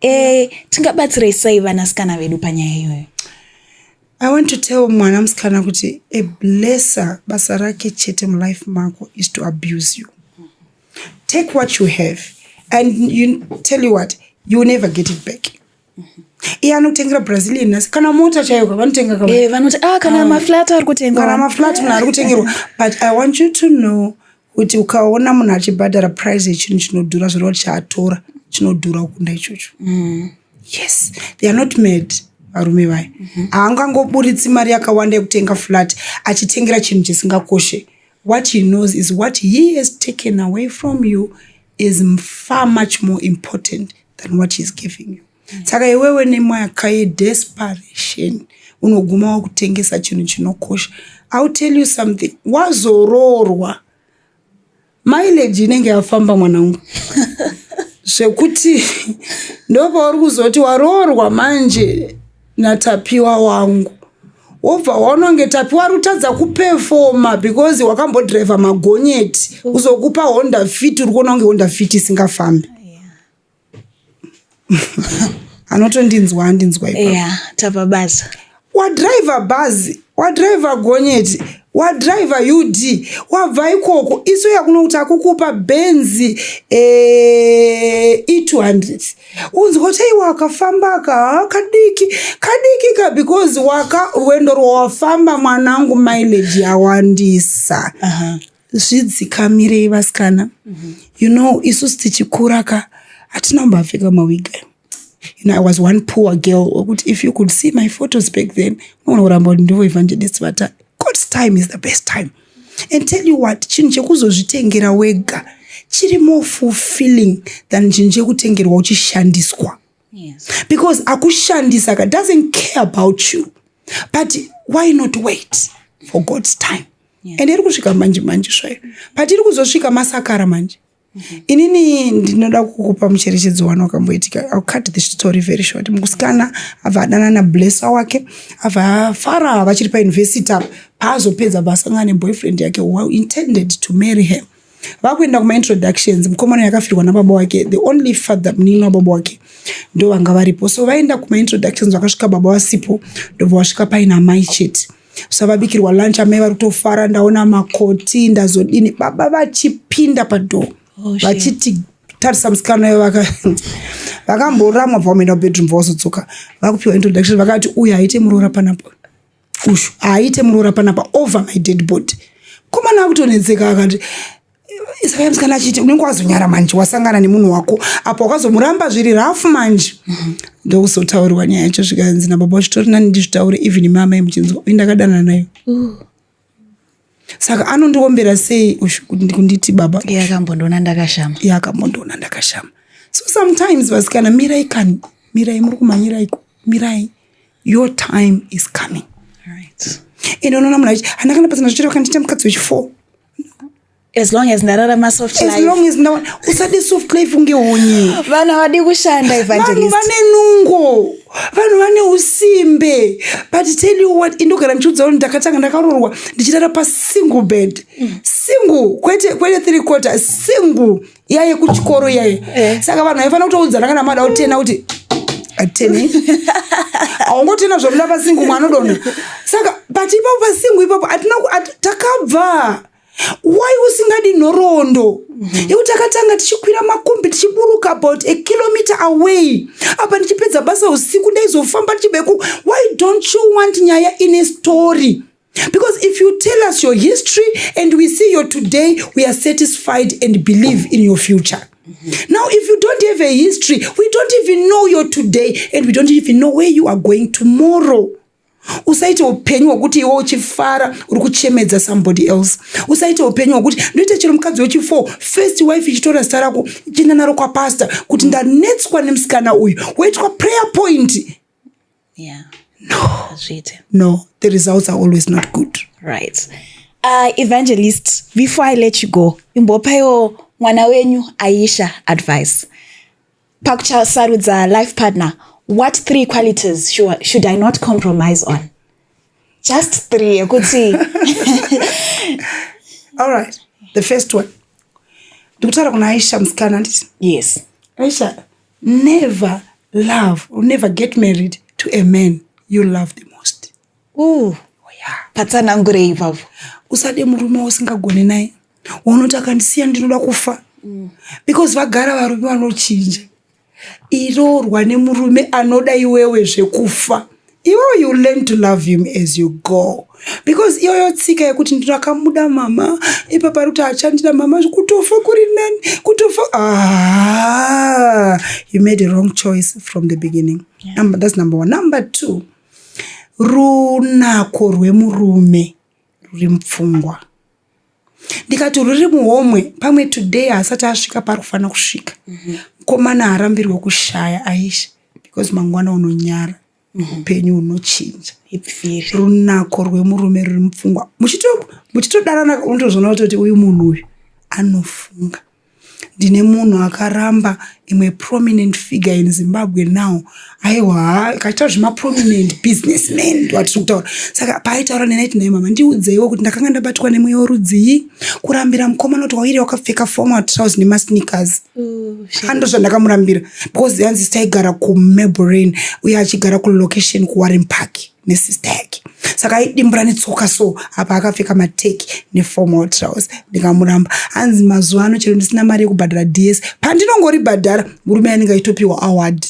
Eh, tingabatsirei sei vanasikana vedu panyaya iyoyo? I want to tell mwana musikana kuti a blesser basa rake chete mulife mako is to abuse you. Take what you have and you tell you what, you will never get it back. iye anotengera brazilian nhasi kana mota chaiyo ka vanotenga ka Eh, vanoti ah kana Ah. maflat ari kutengwa. kana maflat munhu ari kutengerwa but i want you to know kuti ukaona munhu achibhadhara price yechinhu chinodhura zvoreva kuti chaatora chinodhura kukunda ichocho mm. yes they are not mad varume vaya mm-hmm. haangangoburitsi mari yakawanda yekutenga flat achitengera chinhu chisingakoshe what he knows is what he has taken away from you is far much more important than what he is giving you saka iwewe nemwaka yedesperation unoguma wakutengesa chinhu chinokosha ill tell you something wazoroorwa mileji inenge yafamba mwanangu zvekuti ndopauri kuzoti waroorwa manje natapiwa wangu wobva waononge tapiwa ari kutadza kupefoma because wakambodriver magonyeti kuzokupa honda fit uri kuona kunge honda fit isingafambi anotondinzwa andinzwa ipa eya tapa basa wadriver bhazi wadriver gonyeti wadriver ud wabva ikoko isu yakuno kuti akukupa benzi eh, e200 unzwa kuti aiwa akafamba aka haa, kadiki kadiki ka because waka rwendo rwawafamba mwanangu mileage yawandisa Aha. zvidzikamirei vasikana mm -hmm. you know isusu tichikura ka hatina kumbapfeka mawiga you know, i was one poor girl okuti if you could see my photos back then maona kuramba kuti ndivo evangelist vati god's time is the best time and tell you what chinhu chekuzozvitengera wega chiri more fulfilling than chinhu chekutengerwa uchishandiswa yes. because akushandisa ka doesn't care about you but why not wait for god's time yes. and iri kusvika manje manje zvayo but iri kuzosvika masakara manje Mm-hmm. inini ndinoda kukupa mucherechedzo wani wakamboitika ill cut the story very short mukusikana abva adana nablessa wake abva afara vachiri pauniversity apa paazopedza bva asangana neboyfriend yake intended to marry her vakuenda kumaintroductions mukomana yakafirwa nababa wake the only father munini wababa wake ndo vanga varipo so vaenda kumaintroductions vakasvika baba vasipo ndobva vasvika paina mai chete so vabikirwa lunch amai vari kutofara ndaona makoti ndazodini baba vachipinda padhoo oh, vachiti tarisa musikana ivo vakamboramwa bva vamoenda kubedroom bva vazodzoka vakupiwa introduction vakati uyu haite muroora panapo ushu haaite muroora panapa over my dead body komana akutonetseka akati saka musikana achiti unenge wazonyara manje wasangana nemunhu wako apo wakazomuramba zviri rafu manje ndokuzotaurirwa nyaya yacho zvikanzi nababa vachitori nani ndizvitaure even mama yemuchinzwa uye ndakadanana nayo saka anondiombera sei ushu kuti kunditi baba iye akambondiona ndakashama iye akambondiona ndakashama so sometimes vasikana mirai kani mirai muri kumhanyiraiko mirai your time is coming right. and unoona munhu aiti hana kana pasina zvichero kandiita mukadzi wechifour as long as ndararama soft life as long as usade soft life unge honye vana vadi kushanda evangelist vane nungo vanhu vane usimbe but tell you what indogara ndichiudza vanhu ndakatanga ndakarorwa ndichirara pasingle bed single kwete kwete three quarter single yaye kuchikoro yaye Eh. saka vanhu vaifanira kutoudzana kana mada kutena kuti atene haungotena zvamuda pasingle mwana dona saka but ipapo pasingle ipapo hatina ku- hati- takabva why usingadi nhoroondo yekuti akatanga tichikwira makumbi tichiburuka about a kilometer away apa ndichipedza basa usiku ndaizofamba ndichibeku why don't you want nyaya ine story because if you tell us your history and we see your today we are satisfied and believe in your future now if you don't have a history we don't even know your today and we don't even know where you are going tomorrow usaite upenyu hwekuti iwe uchifara uri kuchemedza somebody else usaite upenyu hwekuti ndoita chero mukadzi wechifour first wife ichitora zita rako chienda naro kwapasta kuti ndanetswa nemusikana uyu woitwa prayer point yeah. no. no the results are always not good right uh, evangelist before i let you go imbopaiwo mwana wenyu aisha advice pakuchasarudza life partner what three qualities should, should i not compromise on just three yekuti all right the first one ndikutaura kuna aisha musikana nditi yes aisha never love or never get married to a man you love the most uh, patsanangurei ivavo usade murume wausingagone naye waunoti akandisiya ndinoda kufa mm. because vagara varume vanochinja iroorwa nemurume anoda iwewe zvekufa iwewe you learn to love him as you go because iyoyo tsika yekuti ndinakamuda mama ipa pari kuti achandida mama kutofa kuri nani kutofa ah, you made a wrong choice from the beginning yeah. number, that's number one number two runako rwemurume ruri mupfungwa ndikati ruri muhomwe pamwe today haasati asvika paari kufanira kusvika mhm. mukomana harambirwe kushaya aisha because mangwana unonyara mhm. upenyu unochinja runako rwemurume ruri mupfungwa muchitodanana unotozvona kutoti uyu munhu uyu anofunga ndine munhu akaramba imwe prominent figure in zimbabwe now aiwa haa kaitaura zvemaprominent business man ndiwatiri kutaura saka paaitaura nenaiti naye mama ndiudzeiwo kuti ndakanga ndabatwa nemweya worudzii kurambira mukomana kuti waire wakapfeka formal trouse nemasneakers ando zvandakamurambira because yanzi taigara kumaborain uye achigara kulocation kuwarren park nesister yake saka aidimbura netsoka so apa akapfeka mateki neformal trouse ndikamuramba hanzi mazuva ano chero ndisina mari yekubhadhara ds pandinongoribhadhara murume anenge aitopiwa award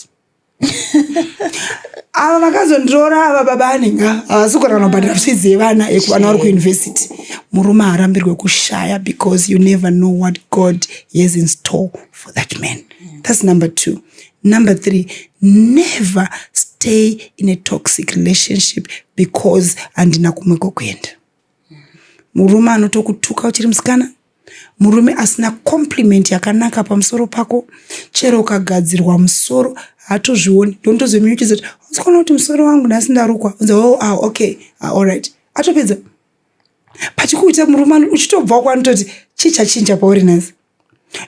ava vakazondiroora ava baba anenge havasi kugona kunobhadhara fizi yevana yekuvana vari kuuniversity murume haarambirwe kushaya because you never know what god has in store for that man that's number two Number three, never stay in a toxic relationship because handina kumwe kokuenda. Murume anotokutuka uchiri musikana, murume asina compliment yakanaka pamusoro pako, chero ukagadzirwa musoro hatozvioni ndontozomiuchidza kuti usikona kuti musoro wangu nhasi ndarukwa unza oh, ah, okay ah, allright atopedza pachikuita murume ano uchitobvawo kwanototi chii chachinja pauri nhasi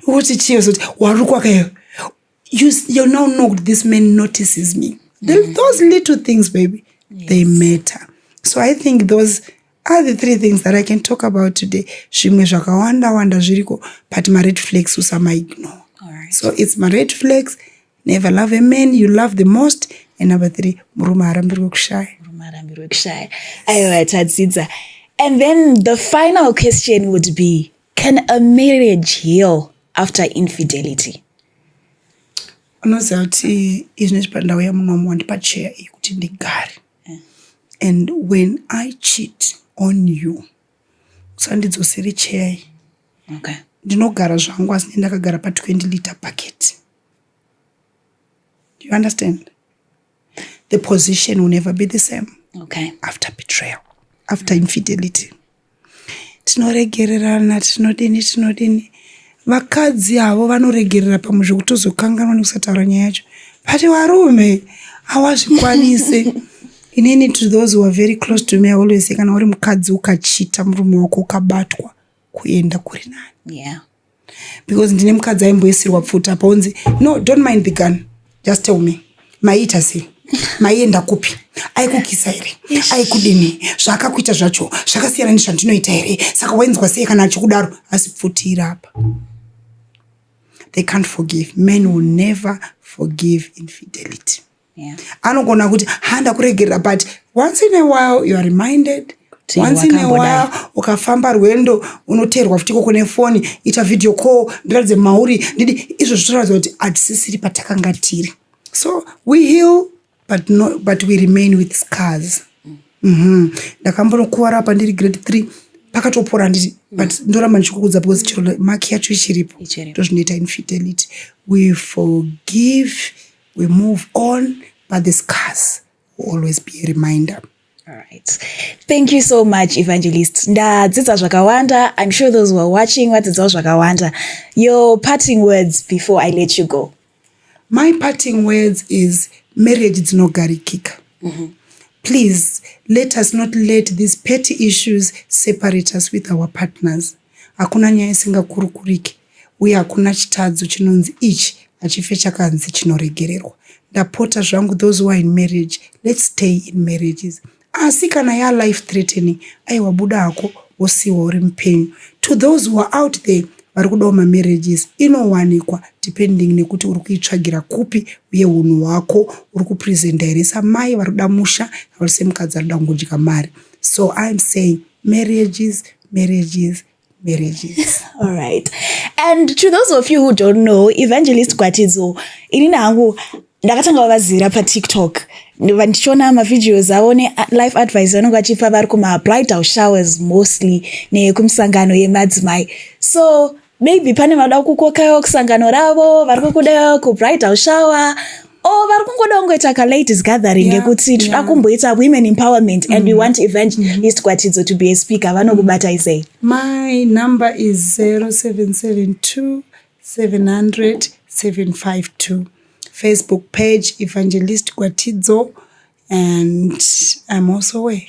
woti chiyo zoti warukwa kayo you now know kuti this man notices me The, mm. those little things baby yes. they matter so i think those are the three things that i can talk about today zvimwe zvakawanda wanda zviriko but mared flags usamaignore right. so it's mared flags never love a man you love the most and number three murume arambirwe kushaya murume arambirwe kushaya aiwa tadzidza and then the final question would be can a marriage heal after infidelity unoziva kuti izvine zvipandau yamunomu wandipa cheya iyi kuti ndigare eh. and when i cheat on you usandidzosere cheya iyi okay. ndinogara zvangu asi ne ndakagara pa 20 liter bucket Do you understand? The position will never be the same. Okay. After betrayal, after infidelity. Tinoregererana, tinodini, tinodini. Vakadzi avo vanoregerera pamwe zvekutozokanganwa nekusataura nyaya yacho. But varume hawazvikwanise. inini to those who are very close to me i always say kana uri mukadzi ukachita murume wako ukabatwa kuenda kuri nani yeah. because ndine mukadzi aimboisirwa pfuti apa unzi no don't mind the gun just tell me maiita sei maienda kupi aikukisa here aikudini zvaakakuita zvacho zvakasiyana nezvandinoita here saka wainzwa sei kana achikudaro asi pfutira apa they can't forgive men will never forgive infidelity Yeah. anogona kuti ha ndakuregerera but once in a while you are reminded Kuti once in a wakambodai. while ukafamba rwendo unoteerwa futi ikoko nefoni ita video call ndiratidze mauri ndidi izvo zvitoratidza kuti hatisisiri patakanga tiri so we heal but, no, but we remain with scars Mhm. ndakambonokuvara apa ndiri grade three pakatopora handiti but ndoramba ndichikukudza because chiro maki yacho ichiripo Ichiripo. ndozvinoita infidelity we forgive we move on but the scars will always be a reminder Right. Thank you so much, Evangelist. Ndadzidza zvakawanda. I'm sure those who are watching vadzidzawo zvakawanda. Your parting words before I let you go. My parting words is marriage dzinogarikika. Mm -hmm. Please let us not let these petty issues separate us with our partners. Hakuna nyaya isingakurukuriki. uye hakuna chitadzo chinonzi ichi hachife chakanzi chinoregererwa ndapota zvangu those who are in marriage let's stay in marriages asi kana ya life threatening aiwa buda hako wosiwa uri mupenyu to those who are out there vari kudawo mamarriages inowanikwa depending nekuti uri kuitsvagira kupi uye unhu hwako uri kupresenta here samai vari kuda musha vari semukadzi ari kuda kungodya mari so iam saying marriages marriages marriages all right and to those of you who don't know evangelist gwatidzo inini hangu ndakatanga vavazira patiktok ndichiona mavideos avo nelife advice vanenge vachipa vari kumabridal showers mostly nekumisangano yemadzimai so maybe pane vada kukokaiwa kusangano ravo vari kukuda kubridal shower Oh, vari kungoda kungoita ka ladies gathering yekuti yeah, tinoda yeah. kumboita women empowerment mm. and we mm. want event mm. Mm-hmm. east kwatidzo to be a speaker vanokubatai sei my number is 0772 700 752 facebook page evangelist kwatidzo and i'm also away